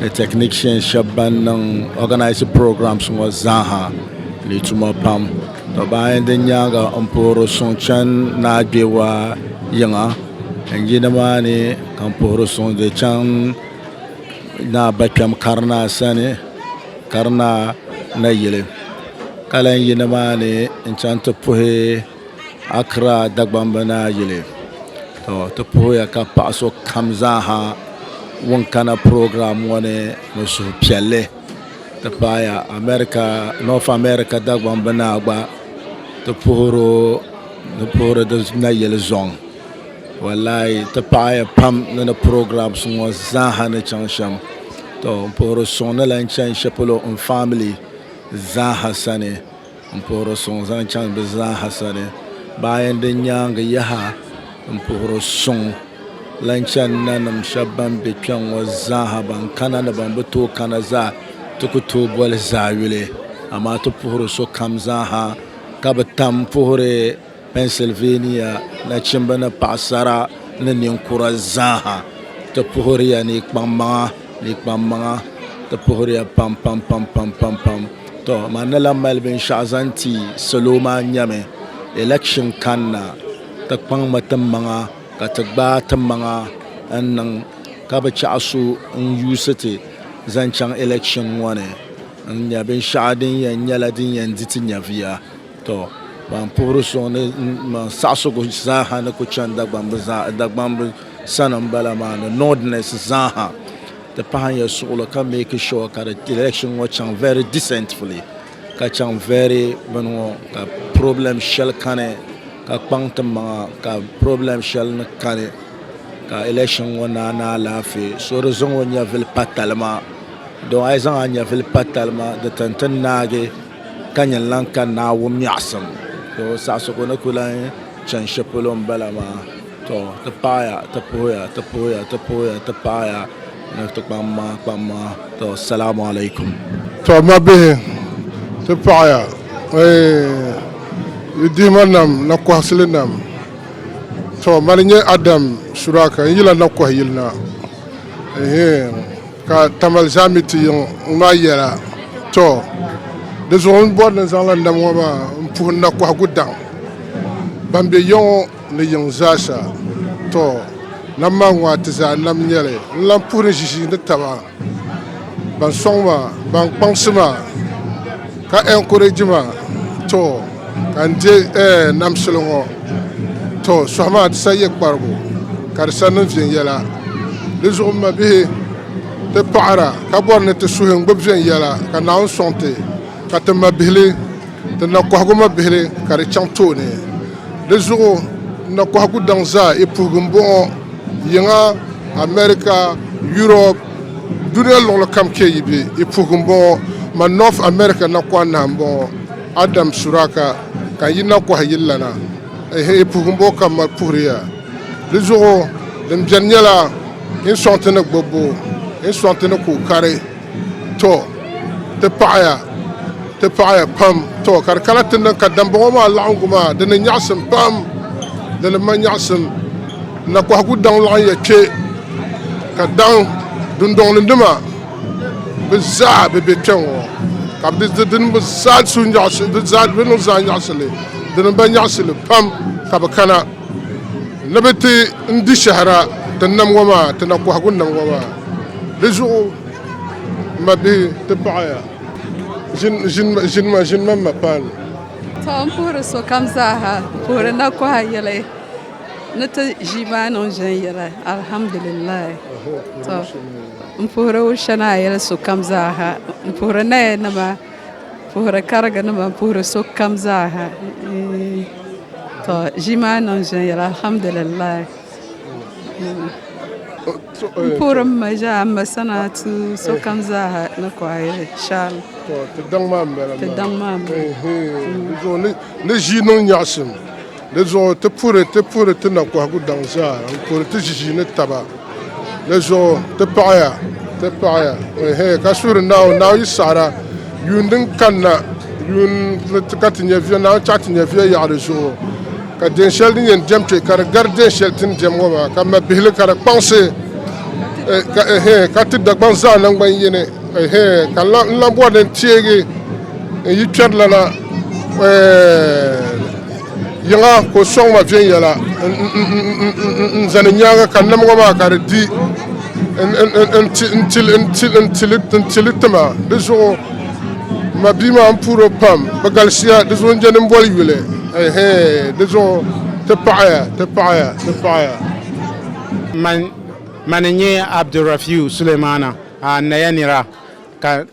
ni technicians shɛba ban niŋ organise programs ŋɔ zaaha ni tuma pam to ban di nyaaŋa n puhiri suŋ chani ni a kpe waa yiŋa n yi ni maa ni ka n puhiri suŋ di chaŋ ni a ba kpɛm karinaa sani karinaa nayili ka lahi yi ni maa ni n chaŋ ti puhi Accra Dagbamba Naa Yili to ti puhiya ka paɣa so kam zaaha ŋun kana program ŋɔ ni ni suhupiɛlli ti paaya America North America Dagbamba Naa gba ti puhiri o ni puhiri di nayili zɔŋ wallahi ti paɣaya pam ni ni programs ŋɔ zaaha ni chaŋ shɛm to m puhiri suŋ ni lan chani shɛli polo n family zaaha sani. N puhir o suŋ zaŋ chaŋ bɛ zaaha sani, baa yɛn di nyaaŋa yaha n puhir o suŋ lan chani nanim shɛb bɛn be kpiɔŋ ŋɔ zaaha, bɛn kana ni bɛn bi tooi kana zaa. Ti ku tooi boli zaayuli, amaa ti puhiri sokam zaaha ka bi tam puhiri. Pennsylvania nachimba ni paɣasara ni ninkura zaaha ti puhiriya ni yi kpaŋmaŋa ni yi kpaŋmaŋa ti puhiriya pam pam pam pam pam pam to man ni lahi mali binshɛɣu zaŋ ti salo maa nyɛmi election kanna ti kpaŋmi ti maŋa ka ti gbaai ti maŋa n niŋ ka bi chaɣi so n yuusi ti zaŋ chaŋ election ŋɔ ni n nya binshɛɣu din yɛn nyɛla din yɛn di ti nyɛviya. Tɔ! Ban puhiri suŋ ni man saɣisigu zaaha ni ku chani Dagbamb sani m-bala maa ni Nordness zaaha ti pahi n yɛn suɣili ka make sure ka di election ŋɔ chaŋ very decently ka chaŋ very bini ŋɔ ka problem shɛli kani ka kpaŋ ti maŋa ka problem shɛli ni kani ka election ŋɔ naai ni alaafee so di zaŋ o nyɛvili pa talima dɔn a yi zaŋ a nyɛvili pa talima di tin ti naagi. Ka nyɛ n lan ka Naawuni miɛɣisim. To, saɣisigu ni ku lan chani shɛ polo m-bala maa. To, ti paaya, ti puhiya, ti puhiya, ti puhiya, ti paaya ni ti kpaŋ maa kpaŋ maa. To, Salamu alaikum. To, m mabihi, ti paɣiya, eey, yi dihima nam, nakɔhasili nam. To, mani n-nyɛ Adam Suraka, n yila nakɔh yili na. Eehee. Ka Tamale zaa mi ti yiŋ ŋɔ maa yɛla, Tɔ! Di zuɣu n bɔri ni n zaŋla n nam ŋɔ maa m-puhi n nakɔhigu daŋ ban be ya ŋɔ ni yiŋ zaa sa. Tɔ! Nam maa ŋɔ a ti zaa nam n-nyɛ li. N lan puhi ni ʒiʒiinitaba, ban sɔŋ ma, ban kpaŋsi ma. Ka encourage ma to ka n de namsili ŋɔ to suhi maa di sa ye kparigu ka di sa niŋ viɛnyɛla di zuɣu m ma bihi ti paɣira ka bɔri ni ti suhi n gbubi viɛnyɛla ka Naawuni sɔŋ ti ka ti ma bihili ti na kɔhigu ma bihili ka di chaŋ tooni di zuɣu n na kɔhigu daŋ zaa i puhigu m bɔŋɔ yiŋa America Europe Duniya luɣili kam kpe yi be yi puhigu m bɔŋɔ ma North America nakɔha nahi m bɔŋɔ Adam Suraka ka n yi nakɔha yi lana ehe yi puhigu m bɔŋɔ ka m mali puhiri ya di zuɣu din beni nyɛla n sɔŋ ti ni gbubbu n sɔŋ ti ni kuli kari tɔ ti paɣiya ti paɣiya pam tɔ ka di kana ti niŋ ka dambɔŋɔ maa laɣingu maa di ni nyaɣisim pam di ni ma nyaɣisim. Nakɔhigu daŋ laɣinya kpe ka daŋ dundɔŋni nima bɛ zaa bɛ be kpɛŋɔ ka bɛ di dini bɛ zaa su nyaɣisi bɛ zaa bɛ niŋ zaa nyaɣisili dini ba nyaɣisili pam ka bɛ kana ni bɛ ti n di shɛhira ti nam ŋɔ maa ti nakɔhigu nam ŋɔ maa di zuɣu m ma bihi ti paɣaya ʒin ʒin ʒin ma ʒin ma ma paanu. Tɔ m puhiri sokam zaa ha puhiri nakɔha yɛli. Ni ti ʒi baa niŋ viɛnyɛla, alhamdulillahi. To, m puhiri Wusha ni a yɛli sokam zaaha, m puhiri naya nima, m puhiri kariga nima, m puhiri sokam zaaha. To ʒii maa niŋ viɛnyɛla alhamdulillahi. M puhiri m ma zaa, m ma Sanaatu, sokam zaaha ni ku a yɛli shaalah. To ti daŋ maa m bala maa. Ti daŋ maa m bala. Ɛɛhee, di zuɣu ni ʒii niŋ nyaɣisim. Di zuɣu ti puhiri ti puhiri ti nakɔhigu daŋ zaa n-kuri ti ʒiʒii ni taba. Di zuɣu ti paɣiya, ti paɣiya, ehe, ka suhiri Naawuni, Naawuni yi saɣira yuun din kanna yuun ni ti ka ti nyɛviya, Naawuni chaɣi ti nyɛviya yaɣi di zuɣu, ka deem shɛli din yɛn diɛm kpe, ka di gari deem shɛli ti ni diɛm ŋɔ maa, ka mabihili ka di kpaŋsi, ka, ehe, ka ti Dagbaŋ zaa naŋgban yini, ehe, ka n lan bɔri ni n teegi n yi kpɛrilana, eeh. Yiŋa ka o sɔŋ ma viɛnyɛla n-zani nyaaŋa ka nam ŋɔ maa ka di di n-tili ti ma. Di zuɣu ma bia maa m-puhir o pam. Bɛ galisiya di zuɣu n-je din boli yuli. Ɛɛhee di zuɣu ti paɣiya ti paɣiya ti paɣiya. Man, man n-nyɛ Abdulrafiu Sulemana, a naya nira ka.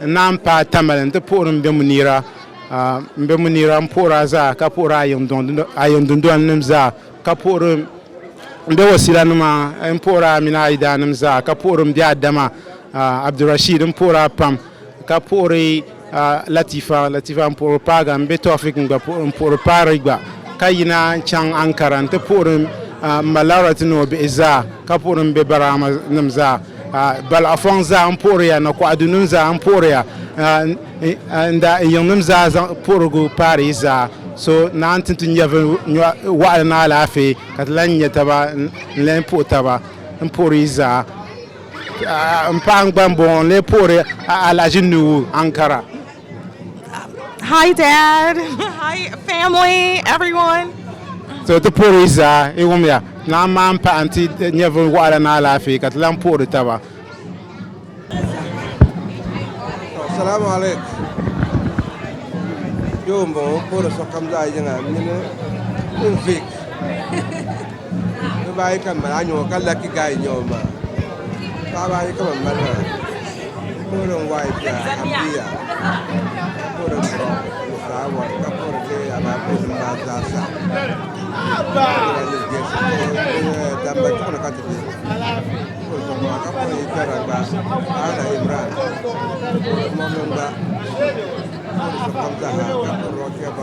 N naan paai tamali nti puhiri m bɛmbu nira, m bɛmbu nira m puhiri a zaa ka puhiri a yiŋ dundolinim zaa ka puhiri m bɛ wasilanima m puhiri a mini a yidaannim zaa ka puhiri m bɛ Adama Abdurashiid m puhiri a pam ka puhiri Latifa Latifa m puhiri paaga m bɛ Tɔfik m gba puhiri m puhiri Paari gba ka yina chaŋ Ankara nti puhiri m ma Lawrati ni o bihi zaa ka puhiri m bɛ Baraama nim zaa. Balaɣifɔŋ zaa m-puhiri ya, nakɔɣidunim zaa m-puhiri ya, n-daa n-yiŋnim zaa zaŋ puhirigu paari yi zaa. So naa n-ti ti nyɛvili nyɔɣ'waɣila ni alaafee ka ti lan nya taba n-lee puhi taba m-puhiri yi zaa. M paɣa gba m-bɔŋɔ n-lee puhiri a alahiʒi Nuhu Ankara. Hi dad, hi family, everyone. So ti puhiri zaa i wumya naa maa n pahi nti nyɛvili waɣila ni alaafee ka ti lan puhiri taba. Salaam alek. Yoo m bɔŋɔ, m puhiri sokam zaa yiŋa mini n vic. Dabba ayi ka n mali a nyɛ o ka laki gaay n nyɛ o maa paɣaba ayi ka ban mali maa n puhiri n waayɛ bia n bia ka puhiri n bɔn ni fulaawɛs ka puhiri bɛ alaafee nim maa zaa sa damba chuɣuni ka ti bɛ puhiri so maa ka puhiri yi piɛra gba ana imran puhiri mɔmi gba puhiri so kam zaa ha ka puhiri o kpɛba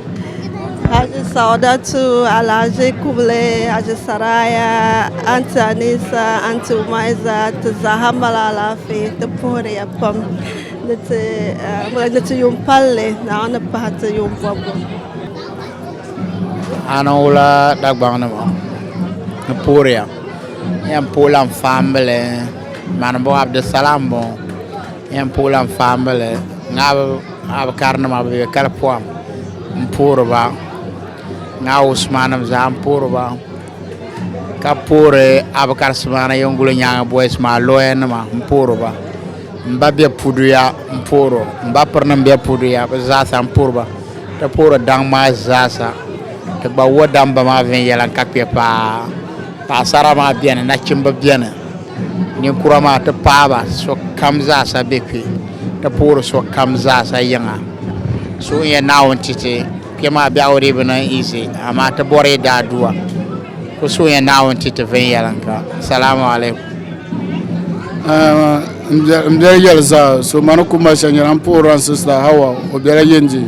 Haji Saudatu, Alhaji Kubule, Haji Saraya, Anti Anisa, Anti Umaiza, ti zaaha mali alaafee ti puhiriya pam ni ti yuun palli Naawuni ni pahi ti yuun bɔbbu. Ana wula Dagbaŋ nima ni puhiriya n-yɛn puhi lan faambili Manibu Abdisalam bɔŋɔ n-yɛn puhi lan faambili Ŋabi Ŋaa bi kari nima bɛ kali pɔhim m puhiri ba ŋaa usmanim zaa m puhiri ba ka puhiri abukar simana yenguli nyaanga boys maa lawyer nima m puhiri ba m ba be puduya m puhiri o m ba pirinim be puduya bɛ zaasa m puhiri ba ti puhiri daŋ maa zaasa ti gba wo damba maa viɛnyɛla ka kpe paa paɣasara maa beni nachimba beni Ninkura maa ti paaba sokam zaasa be kpe, ti puhiri sokam zaasa yiŋa. Suhuyɛ Naawuni titi kpe maa biɛhigu dii bi niŋ easy, amaa ti bɔri yi daa duwa. Ku suhuyɛ Naawuni ti ti viɛnyɛliŋga. Salamu alaikum. M biɛli yɛli zaa, so ma ni ku mali shɛli nyɛla m puhirila n sista Hawwa o bela Yendi.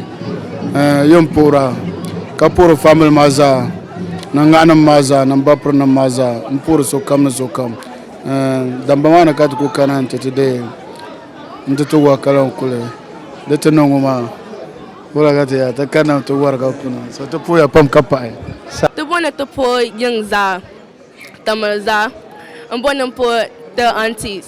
Yi ni puhira ka puhiri family maa zaa. Nanganim maa zaa ni m ba pirinim maa zaa n puhiri sokam ni sokam damba maa ni ka ti ku kana nti ti deei nti ti wari ka lan kuli di ti niŋ ŋɔ maa wala ka ti yaa ti kanna nti wari ka kuna so ti puhiya pam ka pahi Ti bo ni ti puhi yiŋ zaa ti miri zaa m bo ni m puhi ti aunties.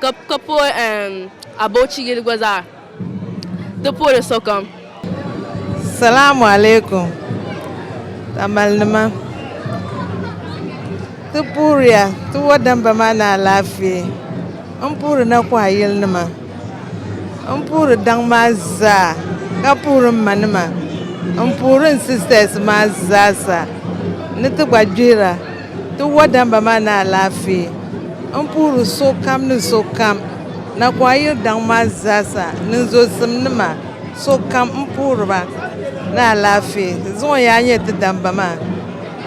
ka pooi Abauchi yili gba zaa ti pooi li sokam. Salamu alaikum tamale nima ti puhiriya ti wa damba maa ni alaafee n puhiri na kuha yili nima n puhiri daŋ maa zaa ka puhiri n ma nima n puhiri n sisters maa zaa sa ni ti gba gbihira. Ti wa damba maa ni alaafee. N puhiri sokam ni sokam Nakɔha yili daŋ maa zaasa ni n zozim nima sokam m puhiri ba ni alaafee. Zuŋɔ yaa nyɛ ti damba maa.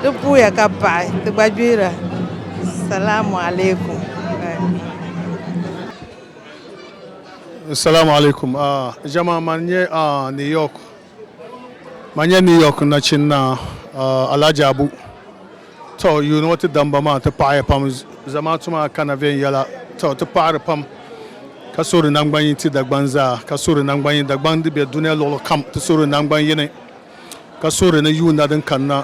Ti puhiya ka paɣi ti gba gbihira. Salamu alaikum. Salamu alaikum. Jamaa man nyɛ New York. Ma nya New York nachin naa Alhaji Abu. To yuuni ŋɔ ti damba maa ti paɣiya pam. Zamaatu maa kana viɛnyɛla. To ti paɣiri pam ka suhi di naŋgbanyin ti Dagbaŋ zaa ka suhi di naŋgbanyin Dagbaŋ di be dunia luɣili kam ti suhi di naŋgban yini ka suhi di ni yuuna din kanna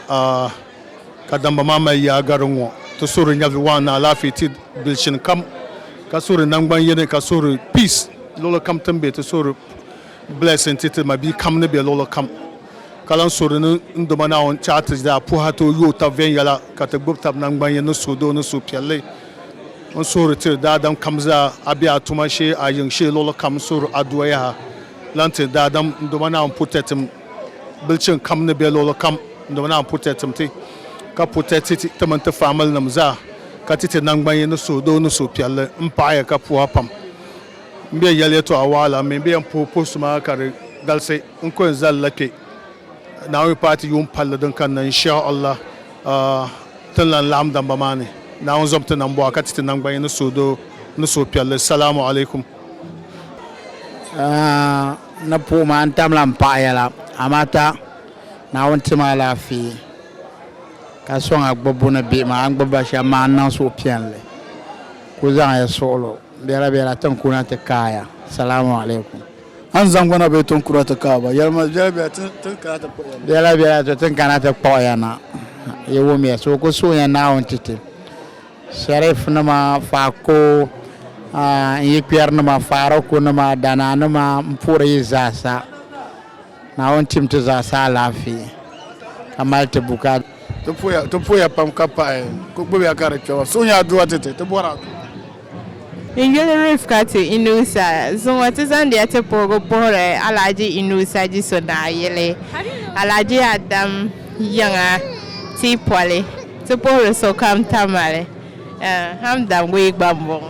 ka damba maa mali yaa gari ŋɔ ti suhi di nyɛvi waan ni alaafee ti bilichini kam ka suhi di naŋgban yini ka suhi di peace luɣili kam ti ni be ti suhi di Blessing ti ti ma bia kam ni be luɣili kam ka lan so di ni n Duuma Naawuni ti a ti daa puhi a ti o yooi tab viɛnyɛla ka ti gbib tab naŋgbanyini ni suhudoo ni suhupiɛlli. N suhuri tiri daadam kam zaa a be a tuma shee a yiŋ shee luɣili kam n suhiri a duwa yaha lan tiri daadam n Duuma Naawuni purtɛtim bilichini kam ni be luɣili kam n Duuma Naawuni purtɛtim ti ka purtɛti ti ti mini ti faamilinim zaa ka ti ti naŋgbanyini ni suhudoo ni suhupiɛlli m paɣi ya ka puhi a pam. M be yɛli yɛtɔɣa waɣila mini bɛ yɛn puhi puhi suma ka di galisi n ko n zali la kpe Naawuni paati yuun palli din kanna Inshah Allah tin lan laɣim damba maa ni Naawuni zɔbi ti nambɔɣu ka ti ti nangbanyini ni suhudoo ni suhupiɛlli Salaamu Alaikum. Aa ni puhi maa n tamla m paɣa yɛla amaa ta Naawuni ti ma alaafee ka sɔŋ a gbubbu ni bihi maa a ni gbubi ba shɛm maa n niŋ suhupiɛlli kuli zaŋ ya suɣili o. Bela bela tin kuna ti kaaya. Salamu alaikum. A ni zaŋ gbana bee tin kuna ti kaai ba? Yɛli ma, Bela bela tin kana ti kpuɣi ya na. Bela bela to tin kana ti kpuɣi ya na. Yi wumya so ku suhiya Naawuni ti ti Sheriff nima, Faako, n yi kpɛri nima, Faaroku nima, Danaa nima m-puhiri yi zaasa. Naawuni tim ti zaa sa alaafee ka mali ti bukaa. Ti puhiya ti puhiya pam ka paɣi ku gbubiya ka di kpɛma suhu nyaa duwa ti ti ti bɔri adua. N yuli Rifkatu Inusa zuŋɔ ti zaŋdiya ti puhigu puhiri Alhaji Inusa Jiso Naa yili Alhaji Adam yiŋa Tiipoli ti puhiri sokam Tamale Hamdam Gui gba m-bɔŋɔ.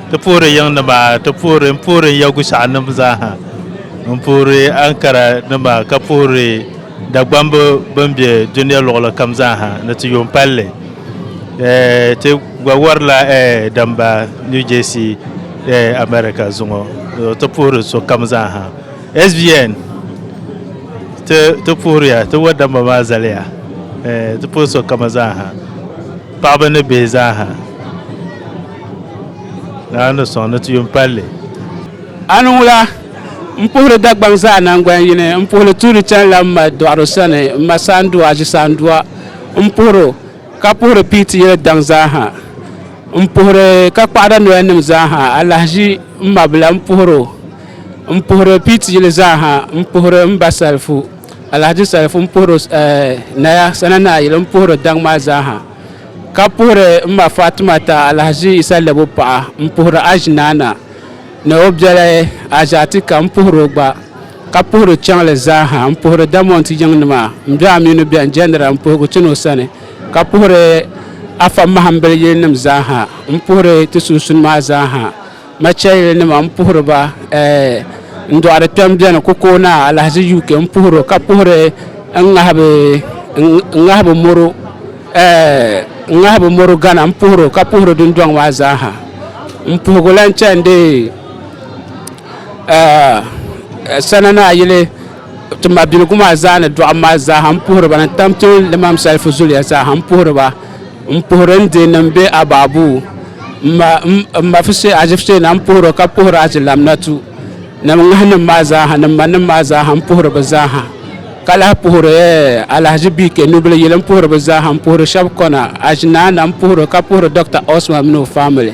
Ti puhiri yiŋnima, ti puhiri, n puhiri n ya Gushɛɣunim zaaha, n puhiri Ankara nima ka puhiri Dagbamb bɛn be dunia luɣili kam zaaha ni ti yuun palli. Ti gba warila damba New Jersey America zuŋɔ. Ti puhiri sokam zaaha. SBN, ti puhiriya, ti wa damba maa zaliya. Ti puhiri sokam zaaha, paɣaba ni bihi zaaha. Naa ni sɔŋ ni ti yuun pali li. Ani wula? M puhiri Dagbaŋ zaa naŋgban yini, m puhili tuuli chanila m ma dɔɣiro sani, m ma Saandua Aʒisaandua m puhir o, ka puhiri Piiti yili daŋ zaa ha. M puhiri Kakpahida noyanim zaa ha, Alahaʒi m ma bila m puhir o. M puhiri Piiti yili zaa ha, m puhiri m ba Salifu, Alahaji Salifu m puhir o, eh, Naya Sana Naa yili m puhiri daŋ maa zaa ha. ka puhiri m ma Faatumata Alhaji Isa Lɛbo paɣa m-puhiri Haji Naana ni o biɛli Haji Atika m-puhiri o gba ka puhiri chaŋli zaa ha m-puhiri Damont yiŋnima m-be Aminu bɛn Jɛnira m-puhigu chani o sani ka puhiri Afa Mahimbil yilinima zaa ha m-puhiri ti sunsun maa zaa ha. Machayili nima n puhiri ba n dɔɣiri kpɛm bɛni ku kooi naa alahaji UK n puhiri ka puhiri n ŋahibu moro n ŋahibu moro gana n puhiri ka puhiri dundɔŋ maa zaaha n puhigu lan chandi sana naa yili Ti mabiligu maa zaa ni dɔɣim maa zaaha m puhiri ba ni tam kpe limam salifu zuliya zaaha m puhiri ba m puhiri n deei nim be abaabuu m ma m ma fise ajifiteena m puhiri o ka puhiri ajilaminatu ni m ŋahi nim maa zaaha ni m ma nim maa zaaha m puhiri bɛ zaaha ka lahi puhiri Alahaji BK Nubili yili m puhiri bɛ zaaha m puhiri shɛbi kɔna ajinaana m puhiri o ka puhiri Dɔkta Osman mini o famili.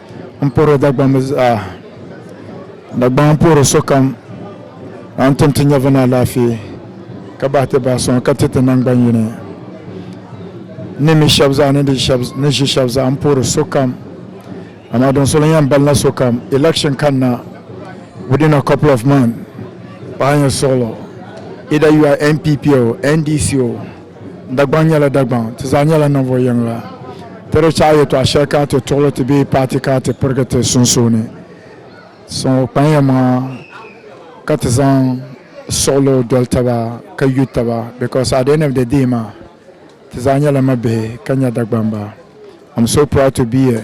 N puhiri Dagbaŋ mi zaa. Dagbaŋ n puhiri sokam ka n tim ti nyɛvili ni alaafee ka bahi ti bahi suŋ ka ti ti naŋgban yini. N ni mi shɛb zaa ni ʒi shɛb zaa m puhiri sokam amaa din soli n yɛn balina sokam election kanna within a couple of months paɣa nyɛ suɣilo either you are NPP o, NDC o, Dagbaŋ nyɛla Dagbaŋ, ti zaa nyɛla ninvuɣ yiŋga. Ti di chaɣi yɛtɔɣ shɛli ka ti tuɣili ti bee paati ka ti pirigi ti sunsuuni. Suŋɔ kpanila maŋa ka ti zaŋ suɣilo doli taba ka yu taba because at the end of the day maa ti zaa nyɛla mabihi ka nya Dagbamba. I'm so proud to be a.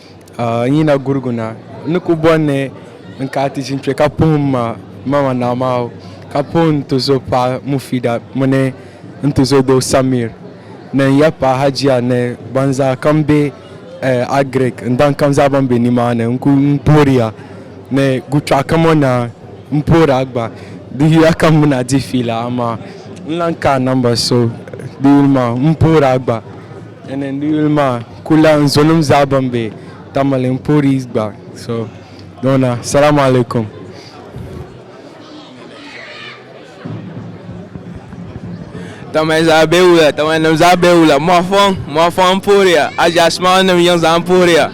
N yina gurigu na n ni ku bɔri ni n kaai ti ʒini kpe ka puhim ma Mama Naamaho ka puhi n tuzo paɣa Mufida mini n tuzo doo Samir ni n ya paɣa Hajiya ni ban zaa kam be Agiriki ni ban kam zaa ban be nimaani. N kuli puhiri ya ni Guchɔɣu kam o naa m puhiri a gba. Di yuya ka m mi ni a dihi fiila amaa n lahi kaai namba so di yuli maa m puhiri a gba. N ni yuli maa ku la n zonim zaa ban be Tamale n poori gba so dɔna. Salaam alaikum. Tamale zaa be wula, Tamale nim zaa be wula, mɔɣifɔŋ, mɔɣifɔŋ n pooriya, Aʒia Smile nim yiŋ zaa n pooriya.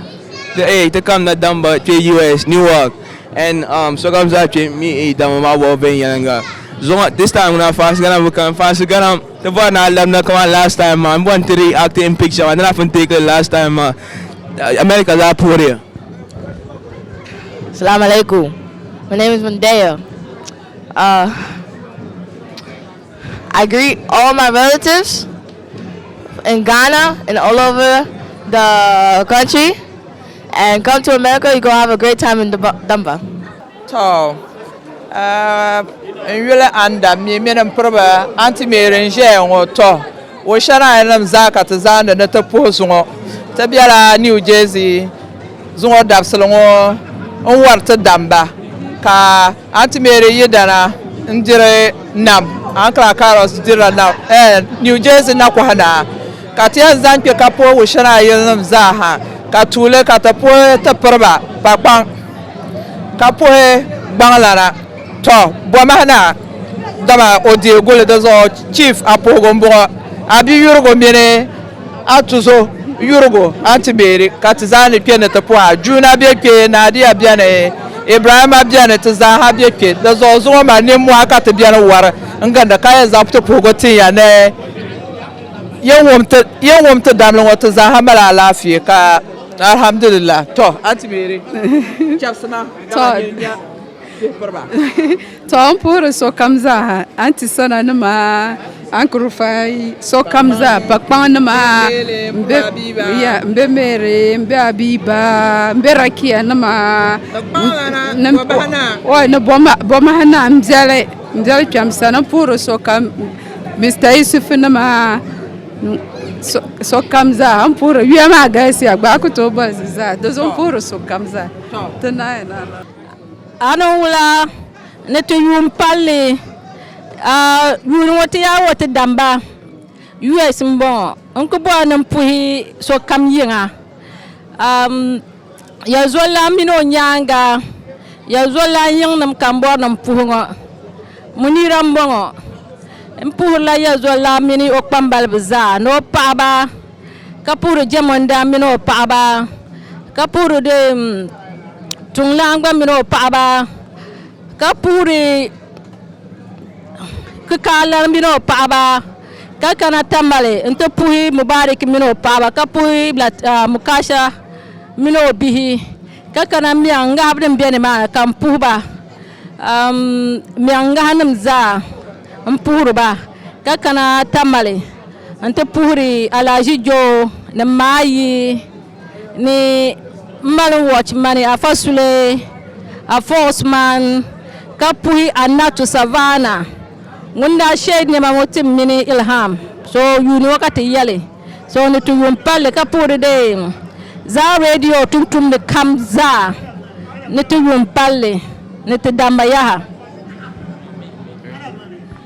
Ti eei ti kamina damba kpe US, New York and um sokam zaa kpe mi eei damba maa bɔbu viɛnyɛliŋga zuɣu. This time ŋuna faans gana bi kani, faans ganam. Ti bɔri ni a labina kamani last time maa, m bɔri ni ti react in picture maa, di lahi pun take li last time maa. America zaa puhiriya. Salam alaikum. My name is Mandeo. Uh, I greet all my relatives in Ghana and all over the country. And come to America, you're going to have a great time in Dumba. To, uh, n yuli anda mi mini m piriba Auntie Mary n ʒeya ŋɔ. To, o shɛraya nim zaa ka ti zaandi ni ti puhi zuŋɔ. Ti bela New Jersey zuŋɔ dabisili ŋɔ n wari ti damba ka Auntie Mary yidana n diri nam. Ankla Carlos dirila nam, eh, New Jersey nakɔha naa. Ka ti yɛn zaŋ kpe ka puhi o shɛraya yilinim zaa ha ka tuuli ka ti puhi ti piriba pakpaŋ. ka puhi gbaŋlana. Tɔ! Bɔmahi na, dama o deei guli, di zuɣu Chief a puhigu m-bɔŋɔ, a bi yurigu mini a tuzo yurigu Aunty Mary ka ti zaa ni kpe ni ti puhi a. Juuna be kpe, Nadia beni, Ibrahima beni, ti zaa ha be kpe. Di zuɣu zuŋɔ maa nimmɔhi ka ti beni wari n-gindi ka yɛn zaŋ ti puhigu tin ya ni yin wum ti damli ŋɔ ti zaa ha mali alaafee ka Alhamdulillah to anti meeri chabsi ma to n puhiri sokam zaaha anti sana nima anki rufai sokam zaa pa kpaŋ nima n bɛ meeri n bɛ abiba n bɛ rakiya nima ni bomaha naa n biɛli kpɛm sani n puhiri sokam Mr Yusuf nima sokam zaa n puhiri yuya maa galisiya gbaai ku tooi boli zaa di zuɣu n puhiri sokam zaa ti naai na a ni wula ni ti yuun palli yuuni ŋɔ ti yaa wo ti damba us n bɔŋɔ n ku bɔri ni n puhi sokam yiŋa Yɛzulilan mini o nyaaŋa Yɛzulilan yiŋnim kambɔrinim puhi ŋɔ Munira m-bɔŋɔ m puhirila Yɛzulilan mini o kpambaliba zaa ni o paɣaba ka puhiri Jɛmundana mini o paɣaba ka puhiri Tuŋlana gba mini o paɣaba ka puhiri kikaali mini o paɣaba ka kana Tamale n ti puhi Mubarik mini o paɣaba ka puhi Mukasha mini o bihi ka kana miɛŋ ŋahibu din bɛ nimaani ka n puhiba miɛŋ ŋahi nim zaa n puhiriba ka kana Tamale n ti puhiri Alahaji Joo ni Maayi ni n mali watch mani afa sule afox man ka puhi annatu savana ŋun daa sheei nema ŋɔ tim mini ilham so yuuni ŋɔ ka ti yɛli so ni ti yuun palli ka puhiri deen zaa radio tuntumdi kam zaa ni ti yuun palli ni ti damma yaha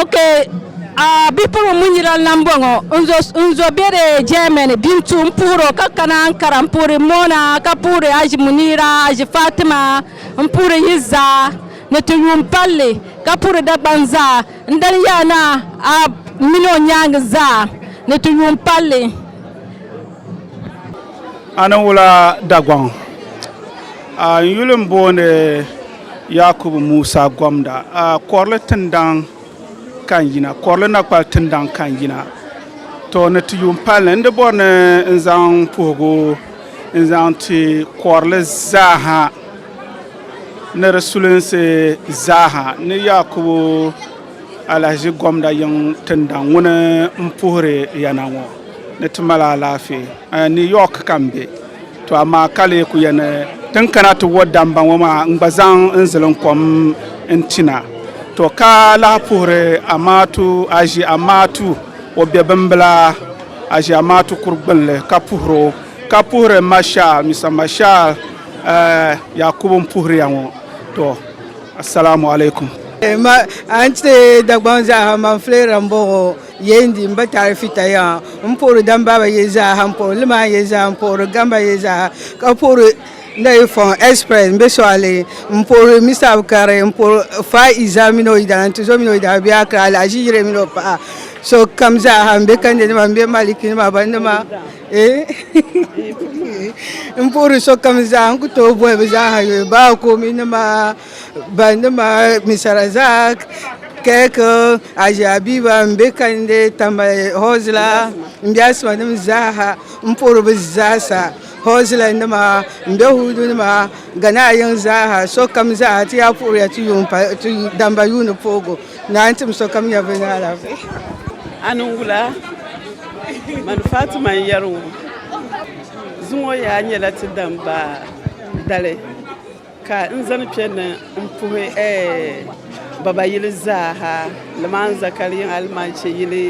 Ok, a bipuɣiŋ Munyiral na m-bɔŋɔ. N zo be di Germany Bintu m-puhir o ka kana Ankara m-puhiri Mona ka puhiri Haji Muniira, Haji Fatima, m-puhiri yi zaa ni ti yuun palli ka puhiri Dagbaŋ zaa. N dali ya na a mini o nyaaŋa zaa ni ti yuun palli. A ni wula Dagbaŋ? A n yuli m-booni. Yaakubu Musa gomda a kɔrili tindaŋ ka n yina, kɔrili na kpali tindaŋ ka n yina. To ni ti yuun pali ni, n di bɔri ni n zaŋ puhigu n zaŋ ti kɔrili zaaha ni di sulinsi zaaha ni Yaakubu alahiʒi gomda yiŋ tindaŋ ŋuni m puhiri ya na ŋɔ ni ti mali alaafee. New York ka m be. To amaa ka lee ku yɛn tin kana ti wo damba ŋɔ maa n-gba zaŋ n ziliŋ kom n-tina. To ka lahi puhiri Amaatu Aʒi Amaatu o be bimbila Aʒi Amaatu kuri gbin li ka puhiri o. Ka puhiri Marshal, Mister Marshal Yakubu m-puhiri ya ŋɔ. To Assalamu Alaikum. Ma a ni ti Dagbaŋ zaaha man Flera m-bɔŋɔ. Yee n di n ba taali fita yaŋa n puhiri dam baaba yee zaaha n puhiri limaan yee zaaha n puhiri gamba yee zaaha ka puhiri Ndayifɔŋ express n be Sɔɣili n puhiri Mista Bukari n puhiri Faa Iza mini o yidana Ntizo mini o yidana bɛ be Akra Alahaji Yire mini o paɣa sokam zaaha m be Kandenima m be Malikinima Banima n puhiri sokam zaaha n ku tooi boli bɛ zaaha Yoyubaaku minima Banima misara zaa kek aʒe abiba m be kalinli tambali hozila m be asima nim zaaha m puhiri bɛ zaasa hozila nima m be huudu nima ganaa yiŋa zaaha sokam zaa ti yaa puhiriya ti yuun pali ti damba yuuni puhigu ni a ni tim sokam nya bɛ ni alaafee. A ni wula? Mani Fatima n yeri ŋɔ. Zuŋɔ yaa nyela ti damba dali. Ka n zani kpe ni n puhi baba yili zaaha, limaan zakari yiŋ alimanche yili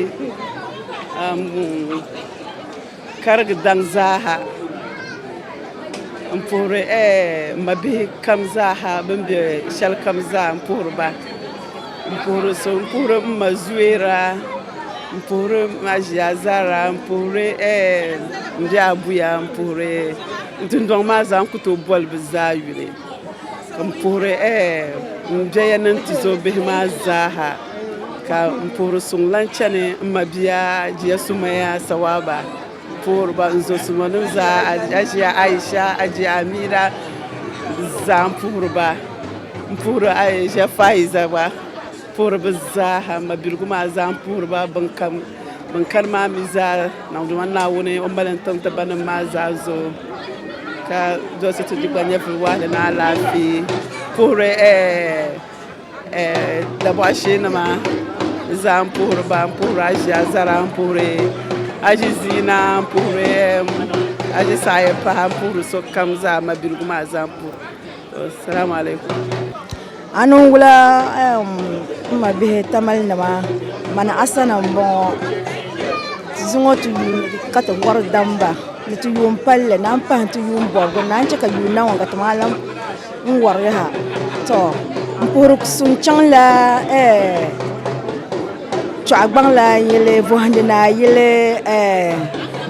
karigi daŋ zaaha, n puhiri m mabihi kam zaaha bɛn be shɛlikam zaa, m puhiri ba. N puhiri so, n puhiri m ma Zuera, n puhiri m ma ʒia Zara, n puhiri m bihi abuya, n puhiri n dundɔŋ maa zaa n ku tooi boli bɛ zaa yuli. Ka m puhiri m biɛya ni n tuzo bihi maa zaaha. Ka m puhiri suŋ lahi chani m mabia Jia Sumaya Sawaba. puhiri ba n zo suma nim zaa ajiya Aisha ajiya Amira zaa n puhiri ba n puhiri Aisha Faiza gba puhiri bi zaaha n mabiligu maa zaa n puhiri ba bin kam bin kani maa mi zaa niŋdima Naawuni o mali n tiŋ ti ba nim maa zaa zuɣu ka doli so ti di gba nyɛvili waɣala ni alaafee puhiri ɛɛ Dabɔɣu shee ni maa zaa n puhiri ba n puhiri aʒi azara n puhiri aʒi ziina n puhiri aʒi saha yɛn pahi n puhiri sokam zaa mabiligu maa zaa n puhiri asalaamaaleykum. A ni wula n ma bihi tamali nima mani asana n bɔŋɔ ti zi ŋɔ ti yuun ka ti bɔri damba ni ti yuun palli naan pahi ti yuun bɔbigu naan chɛ ka yuun na ŋɔ ka ti maa lahi N wari ha to n puhiri kusum chaŋla eh, chɔɣigbaŋla n yili bɔhindi ni a yili eh,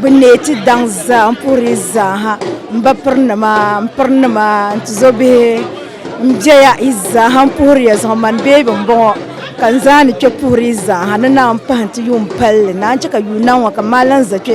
bi neeti daŋ zaa n puhiri zaa ha n ba piri nima n piri nima n tizo bihi n bɛya yi zaa ha n puhiriya zaŋ mani beebi n bɔŋɔ ka n zaa ni kpɛ puhiri zaa ha ni naan pahi n ti yuun palli naan chɛ ka yuun niŋ ŋɔ ka n maa lan za kpɛ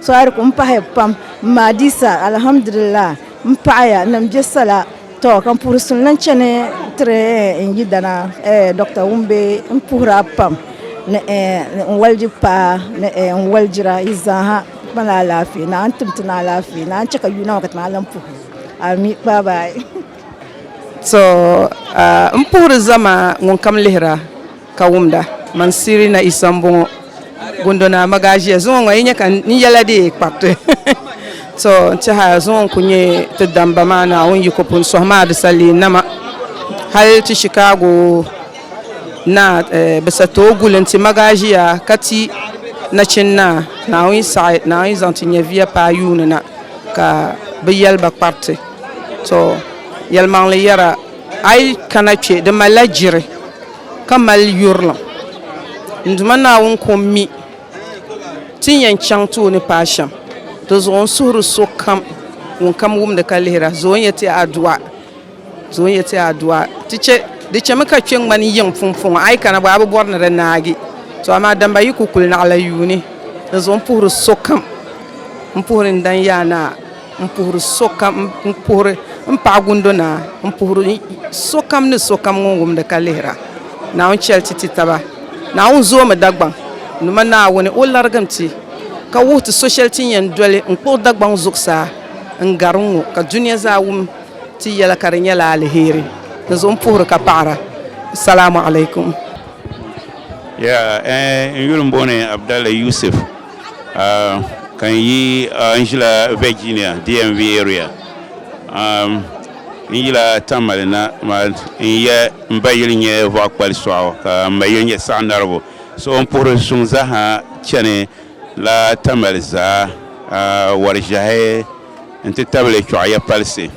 Sɔhiri ku m-pahi pam Maadisa alhamdulillah m-paɣiya ni m-be sala tɔ ka m puhiri suni lan chani tiri n yidana Dɔkta Wumbe m-puhira pam ni n waligi paa ni n waligira yi zaaha kpani alaafee ni a ni tim ti ni alaafee ni a ni chɛ ka yuuna maa ka ti maa lan puhi Ami baabaayi. To m puhiri zama ŋunkam lihira. Ka wumda, man Sirina Isa m-bɔŋɔ. Gundo Naa ma gaa ʒiya. Zuŋɔ ŋɔ yi nya ka n yɛla di kpariti. To n tɛha zuŋɔ n-kul nyɛ ti damba maa Naawuni yiko pun sɔhi maa di sa leei nama. Hal ti Chicago Naa bi sa tooi guli n-ti ma gaa ʒiya ka ti nachin naa Naawuni saɣi Naawuni zaŋ ti nyɛviya paai yuuni na ka bɛ yɛli ba kpariti. To yɛlimaŋli yɛra a yi kana kpe di malila jiri. ka mali yurilim. N Duuma Naawuni ka o mi ti ni yɛn chaŋ ti o ni paai shɛm. Dizuɣu n suhiri sokam ŋun kam wumdi ka lihira, zo n-yɛl ti aduwa, zo n-yɛl ti aduwa. Ti chɛ, di chɛmi ka kpe ŋmani yiŋ pumpɔŋɔ, a yi kana bɔ a bi bɔri ni di naagi. To amaa damba yi ku kuli naɣila yuuni, dizuɣu m puhiri sokam, m puhiri n dan yaa naa. N puhiri sokam, n puhiri m Paɣa Gundo Naa, n puhiri sokam ni sokam ŋun wumdi ka lihira. Naawuni chɛli ti ti taba. Naawuni zoomi Dagbaŋ nima Naawuni o larigim ti ka wuhi ti so shɛli ti ni yɛn doli n kpuɣi Dagbaŋ zuɣusaa n gari n ŋɔ ka dunia zaa wum ti yɛla ka di nyɛla aliheri. Dinzuɣu m puhiri ka paɣira. Salaamu alaikum. Yaa ɛɛn n yuli m booni Abdalla Yusuf. Ka n yi n ʒila Virginia DMV area n yila Tamale na maa n yɛ n ba yili nyɛ Vɔɣu Kpali Sɔɣu ka n ma yili nyɛ Saɣi Narigu so o ni puhiri suŋ zaaha chani la Tamale zaa wari ʒiɛhi n ti tabili Chɔɣiya palisi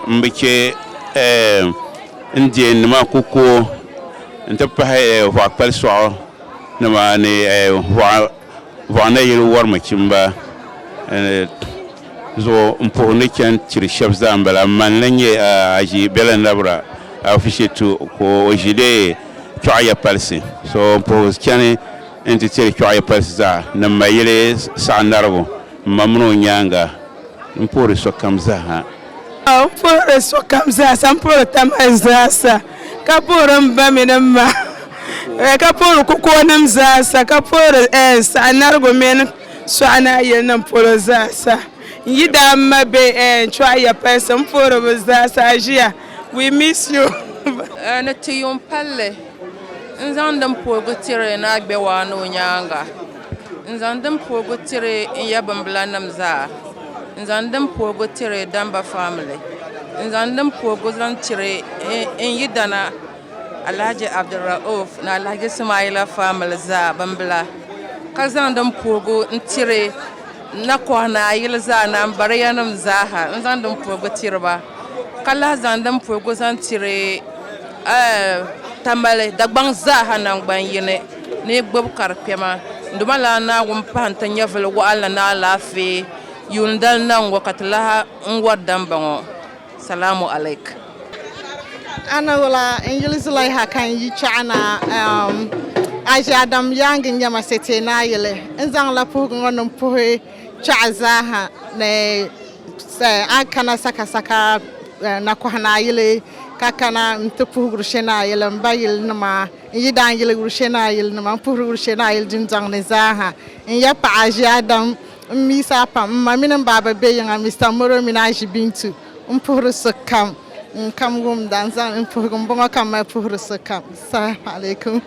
n bi chɛ Indian nima ku ko n ti pahi Vɔɣu Kpali Sɔɣu Nimaani Vɔɣina yili wɔri mi chimba zuɣu n puhi ni chani tiri shɛba zaa n bala. Mani lan nyɛ Haji Bela Nabira Afishetu ka o ʒi di Chɔɣiya palisi zuɣu n puhi chani n ti tiri Chɔɣiya palisi zaa ni Mayili Saɣinarigu m ma mini o nyaaŋa n puhiri sokam zaha. N puhiri sokam zaasa n puhiri taman zaasa ka puhiri m ba mini m ma ka puhiri kukonim zaasa ka puhiri saɣinarigu mini suɣanaayilim polo zaasa n yidaa m ma be chuɣaya palisi m puhiri bɛ zaasa aʒia we miss you ni ti yuŋ palli n zaŋdi m puhigu tiri ni a gbewaa ni o nyaaŋa. N zaŋ din puhigu tiri n ya bimbila nim zaa N zaŋ din puhigu tiri Damba family N zaŋ din puhigu zaŋ tiri n yidana Alahaji Abdulrauf ni Alahaji Sumayila family zaa bimbila ka zaŋ din puhigu n tiri Nakɔha ni Ayili zaa ni Ambariya nim zaa ha n zaŋ din puhigu tiri ba ka lahi zaŋ din puhigu zaŋ tiri Tamale Dagbaŋ zaa ha nangban yini ni yi gbubi karikpɛma Dumalana Naawuni pahi n-ti nyɛvili waɣinli ni alaafee yuundali na ŋ-ŋɔ ka ti lahi n wari damba ŋɔ. Salaamu alaik. A na wula n yuli Zulaiha ka n yi chaɣa na ɛɛm a ʒe Adam yaaŋa n-nyɛ ma sete ni a yuli. N zaŋ la puhigu ŋɔ ni m puhi chaɣa zaa ha ni a kana sakasaka nakɔha ni a yuli ka kana n-ti puhiguri she ni a yuli m ba yili nima. N yi daa yili Urushenai ayilinima, m puhiri Urushenai ayili dundɔŋ ni zaa ha. N ya paɣa aʒi Adam, m mi sa pam. M ma mini m baaba be yiŋa, Mista Moro mini aʒi Bintu. M puhiri sokam. Ŋun kam wum dan zaŋ n puhigu m bɔŋɔ ka m mali puhiri sokam. Salaam alaikum.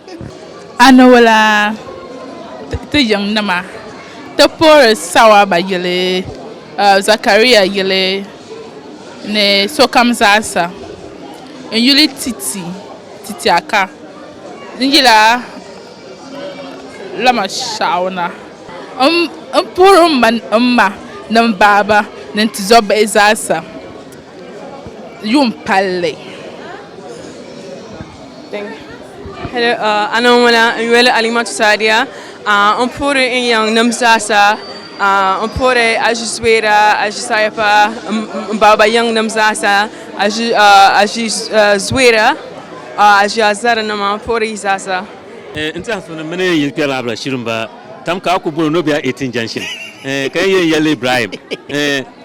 A ni wula ti yiŋ nima ti puhiri Sawaba yili, Zakaria yili ni sokam zaasa. N yuli ti ti. Ti ti a ka n yil a lama shɛɣu na. M puhiri m ma ni m ma ni m baaba ni n tizɔbihi zaasa yuun palli. Ana ŋuna n-yoli Alimatu Saadiya. M puhiri n yiŋnim zaasa. M puhiri Aʒi Zubeera, Aʒi Sayipa m baaba yiŋnim zaasa. A ʒi zuiya, a ʒi a zarinima pori zaasa. N tɛha so ni mini n yili kpɛrila abila shiri m-ba tam ka a ku boli o ni o be a eighteen junction ka yi yɛn yɛlli Ibrahim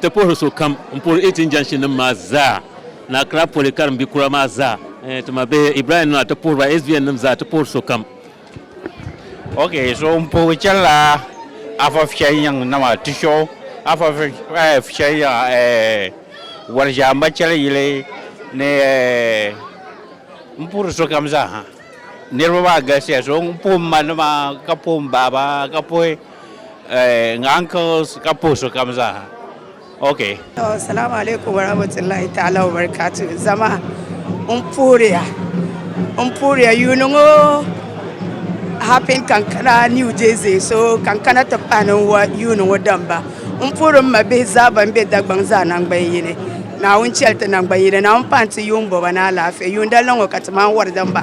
ti puhiri so kam n puhiri eighteen junction nim maa zaa ni Accra poli karimbi kura maa zaa ti ma bihi Ibrahim nima ti puhiri ba SBN nim zaa ti puhiri so kam Ok so n puhi chɛnila afa fiɛnyiŋ nama ti so afa fiɛnyiŋ wari ʒɛamba chɛli yili ni n puhiri sokam zaaha niraba maa galisiya so n puhi n ma nima ka puhi n baaba ka puhi n ankils ka puhi sokam zaaha Okay. Salamu alaikum warahmatullahi ta'ala wabarakatuh zama n puhiriya n puhiriya yuuni ŋɔ happen kankana new jersey so kankana ti pahi ni wa yuuni ŋɔ damba n puhiri m ma bihi zaa ban be Dagbaŋ zaa nangban yini Naawuni chɛli ti nangban yini Naawuni pahi n ti yuun bɔba ni alaafee yuundalina ŋɔ ka ti mani wari damba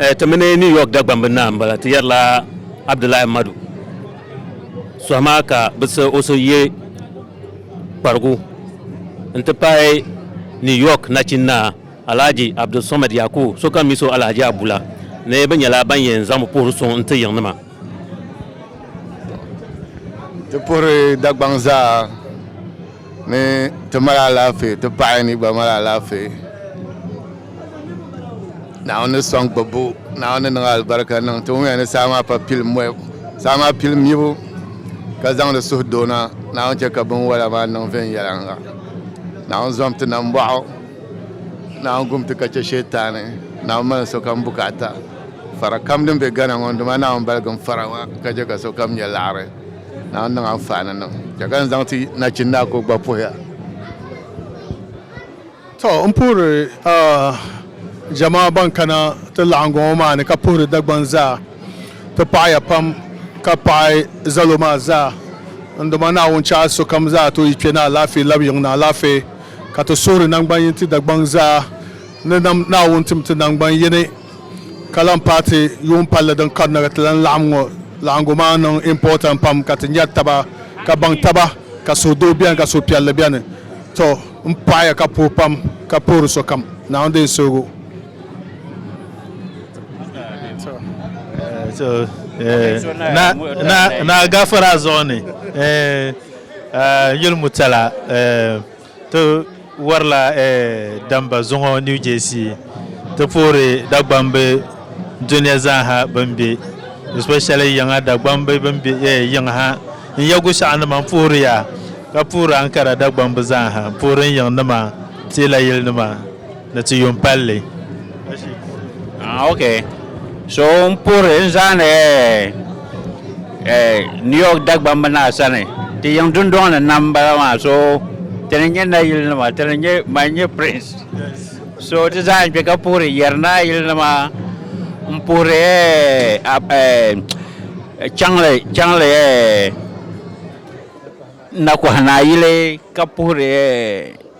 Eh, ti mini New York Dagbamb n naai m-bala, ti yɛrila Abdullahi Madu sɔhi maa ka bɛ siɣi o so ye kparigu n-ti pahi New York nachin naa Alhaji Abdulsomad Yakubu sokam mi so Alhaji Abu la ni bɛ nyɛla ban yɛn zaŋmi puhiri suŋ n-ti yiŋnima. Ti puhiri Dagbaŋ zaa ni ti mali alaafee ti paɣa ni gba mali alaafee Naawuni ni sɔŋ gbubbu Naawuni ni niŋ alibarika niŋ ti ŋun yɛn ni saa maa pa pili mɔbu saa maa pili mibu ka zaŋdi suhu doo na Naawuni chɛ ka binwola maa niŋ viɛnyɛliŋga Naawuni zom ti nambɔɣu Naawuni gum ti ka chɛ Sheetani Naawuni mali sokam bukaata Fara kam din be Ghana ŋɔ n-dim a Naawuni baligim fara ŋɔ ka je ka sokam nya laɣiri. Naawuni niŋ anfaani niŋ. Che ka n zaŋ ti nachin naa ka o gba puhi a. To, m puhiri a jamaa ban kana ti laɣiŋgu ŋɔ maa ni ka puhiri Dagbaŋ zaa ti paɣi ya pam ka paɣi zalo maa zaa. N Duuma Naawuni che a sokam zaa ti o yi kpe ni alaafee labi yiŋ ni alaafee. Ka ti suhiri naŋgban yini ti Dagbaŋ zaa ni Naawuni tim ti naŋgban yini. Ka lan paai ti yuun palli din karina ka ti lan laɣim ŋɔ laɣingu maa niŋ important pam ka ti nyari taba ka baŋ taba ka suhudoo beni ka suhupiɛlli beni. To n pɔɣiya ka puhi pam ka puhiri sokam Naawuni deei suhigu. Naa Gafara zuɣu ni n yuli Murtala. Ti warila damba zuŋɔ New Jersey ti puhiri Dagbambi dunia zaaha bɛn be especially yiŋa Dagbambi bɛn be yiŋ ha n Yagu shɛɣu nima n puhiri ya ka puhiri Ankara Dagbambi zaaha n puhiri n yiŋ nima teela yili nima. Ni ti yuun pali li. Ah, ok. So n puhiri n zaani eh, eh, New York Dagbamb naa sani. Ti yiŋ dundɔŋ ni nam m-bala maa. So ti ni nyɛ nayili nima, ti ni nyɛ, man n nyɛ Prince. So ti zaa n kpe ka puhiri yɛri naayili nima, n puhiri eh, a, eh, chaŋli, chaŋli eh, nakohi naayili ka puhiri eh,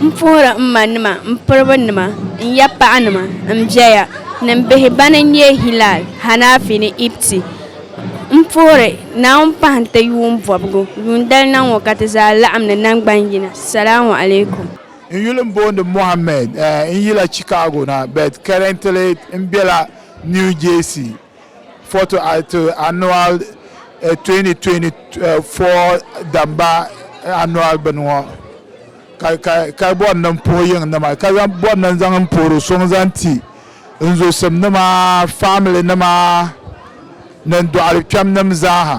M puhiri m ma nima m piriba nima n ya paɣa nima m bɛya ni m bihi bani n nyɛ Hilal, Hanafi ni Ibti. M puhiri Naawuni pahi nti yuun bɔbigu yuundali na ŋɔ ka ti zaa laɣim ni naŋgban yina. Salaamu alaikum. N yuli n booni Mohammed. N yila Chicago na but currently m bela New Jersey. Foto to annual 2024 damba annual bini ŋɔ ka ka ka bɔri ni n puhi yiŋ nima ka zaŋ bɔri ni n zaŋ n puhiri so n zaŋ ti n zusim nima family nima ni n dɔɣiri kpɛm nim zaaha.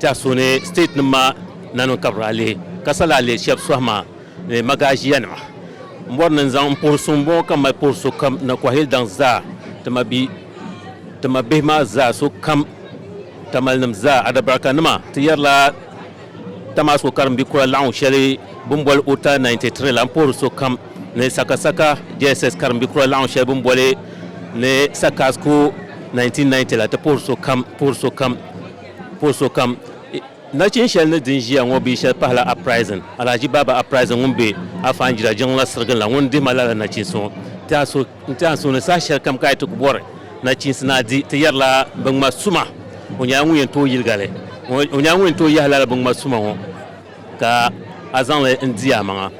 Tɛha suhi ni state nim maa naniŋ ka bɛ daa lihi ka sa laa leei shɛb sohi maa ni magaʒiya nima mɔri ni n-zaŋ m-puhiri so m-bɔŋɔ ka m mali puhiri so kam na kɔhili daŋ zaa ti ma bi ti ma bihi maa zaa so kam tamali nim zaa adabaraka nima ti yɛri la Tamasko karim bi kura laɣingu shɛli bɛ ni boli Ota 93 la m-puhiri so kam ni Sakasaka JSS karim bi kura laɣingu shɛli bɛ ni boli ni Sakasko 1990 la ti puhiri so kam puhiri so kam Pol sokam nachin shɛli ni din ʒiya ŋɔ bia shɛli pahila Uprising, Alhaji Baba Uprising ŋun be Afanjira jiŋli la sirigili la ŋun dihi ma lala nachiinsi ŋɔ. Ti a so n ti ansuuni saha shɛli kam ka a yi ti ku bɔri nachiinsi ni a di, ti yɛrila binŋma suma. O nyɛla ŋun yɛn tooi yiliga li. O nyɛla ŋun yɛn tooi yahi lala binŋma suma ŋɔ. Ka a zaŋ li n di amaŋa.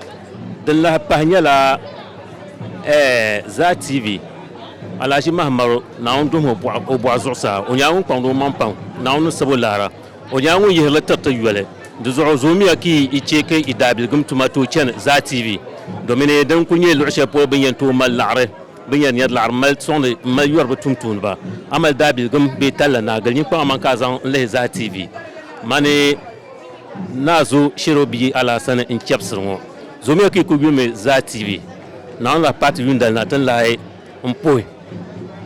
Din lahi pahi nyɛla ɛɛh Zaa TV, Alahaji Mahammaru, Naawuni duhim o bɔɣu o bɔɣu zuɣusaa, o nyɛla ŋun kpaŋdi o maŋ paŋ, Naawuni ni sab o laara, o nyɛla ŋun yihiri li tiriti yoli. Di zuɣu zoomiya ka yi yi chɛ ka yi daabiligim tuma tooi chani Zaa TV, domin din kul nyɛ luɣ shɛli polo bɛ ni yɛn tooi mali laɣiri, bɛ ni yɛn nyari laɣiri m-mali sɔŋdi m-mali yɔri bɛ tumtumdiba. A mali daabiligim bee talla, naagili nyin kpaŋ amaŋ ka a zaŋ n-lihi Zaa TV. Mani. Naa Zo Shero bia Alaasani n-chɛbisiri ŋɔ. Zomiya ka yi kuli yulimi zaa TV. Naawuni lahi paai ti yuundali na ti ni lahi m-puhi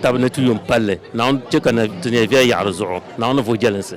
tab ni ti yo m-palli. Naawuni chɛ ka ti neei viɛl yaɣiri zuɣu. Naawuni ni vuhi jɛlinsi.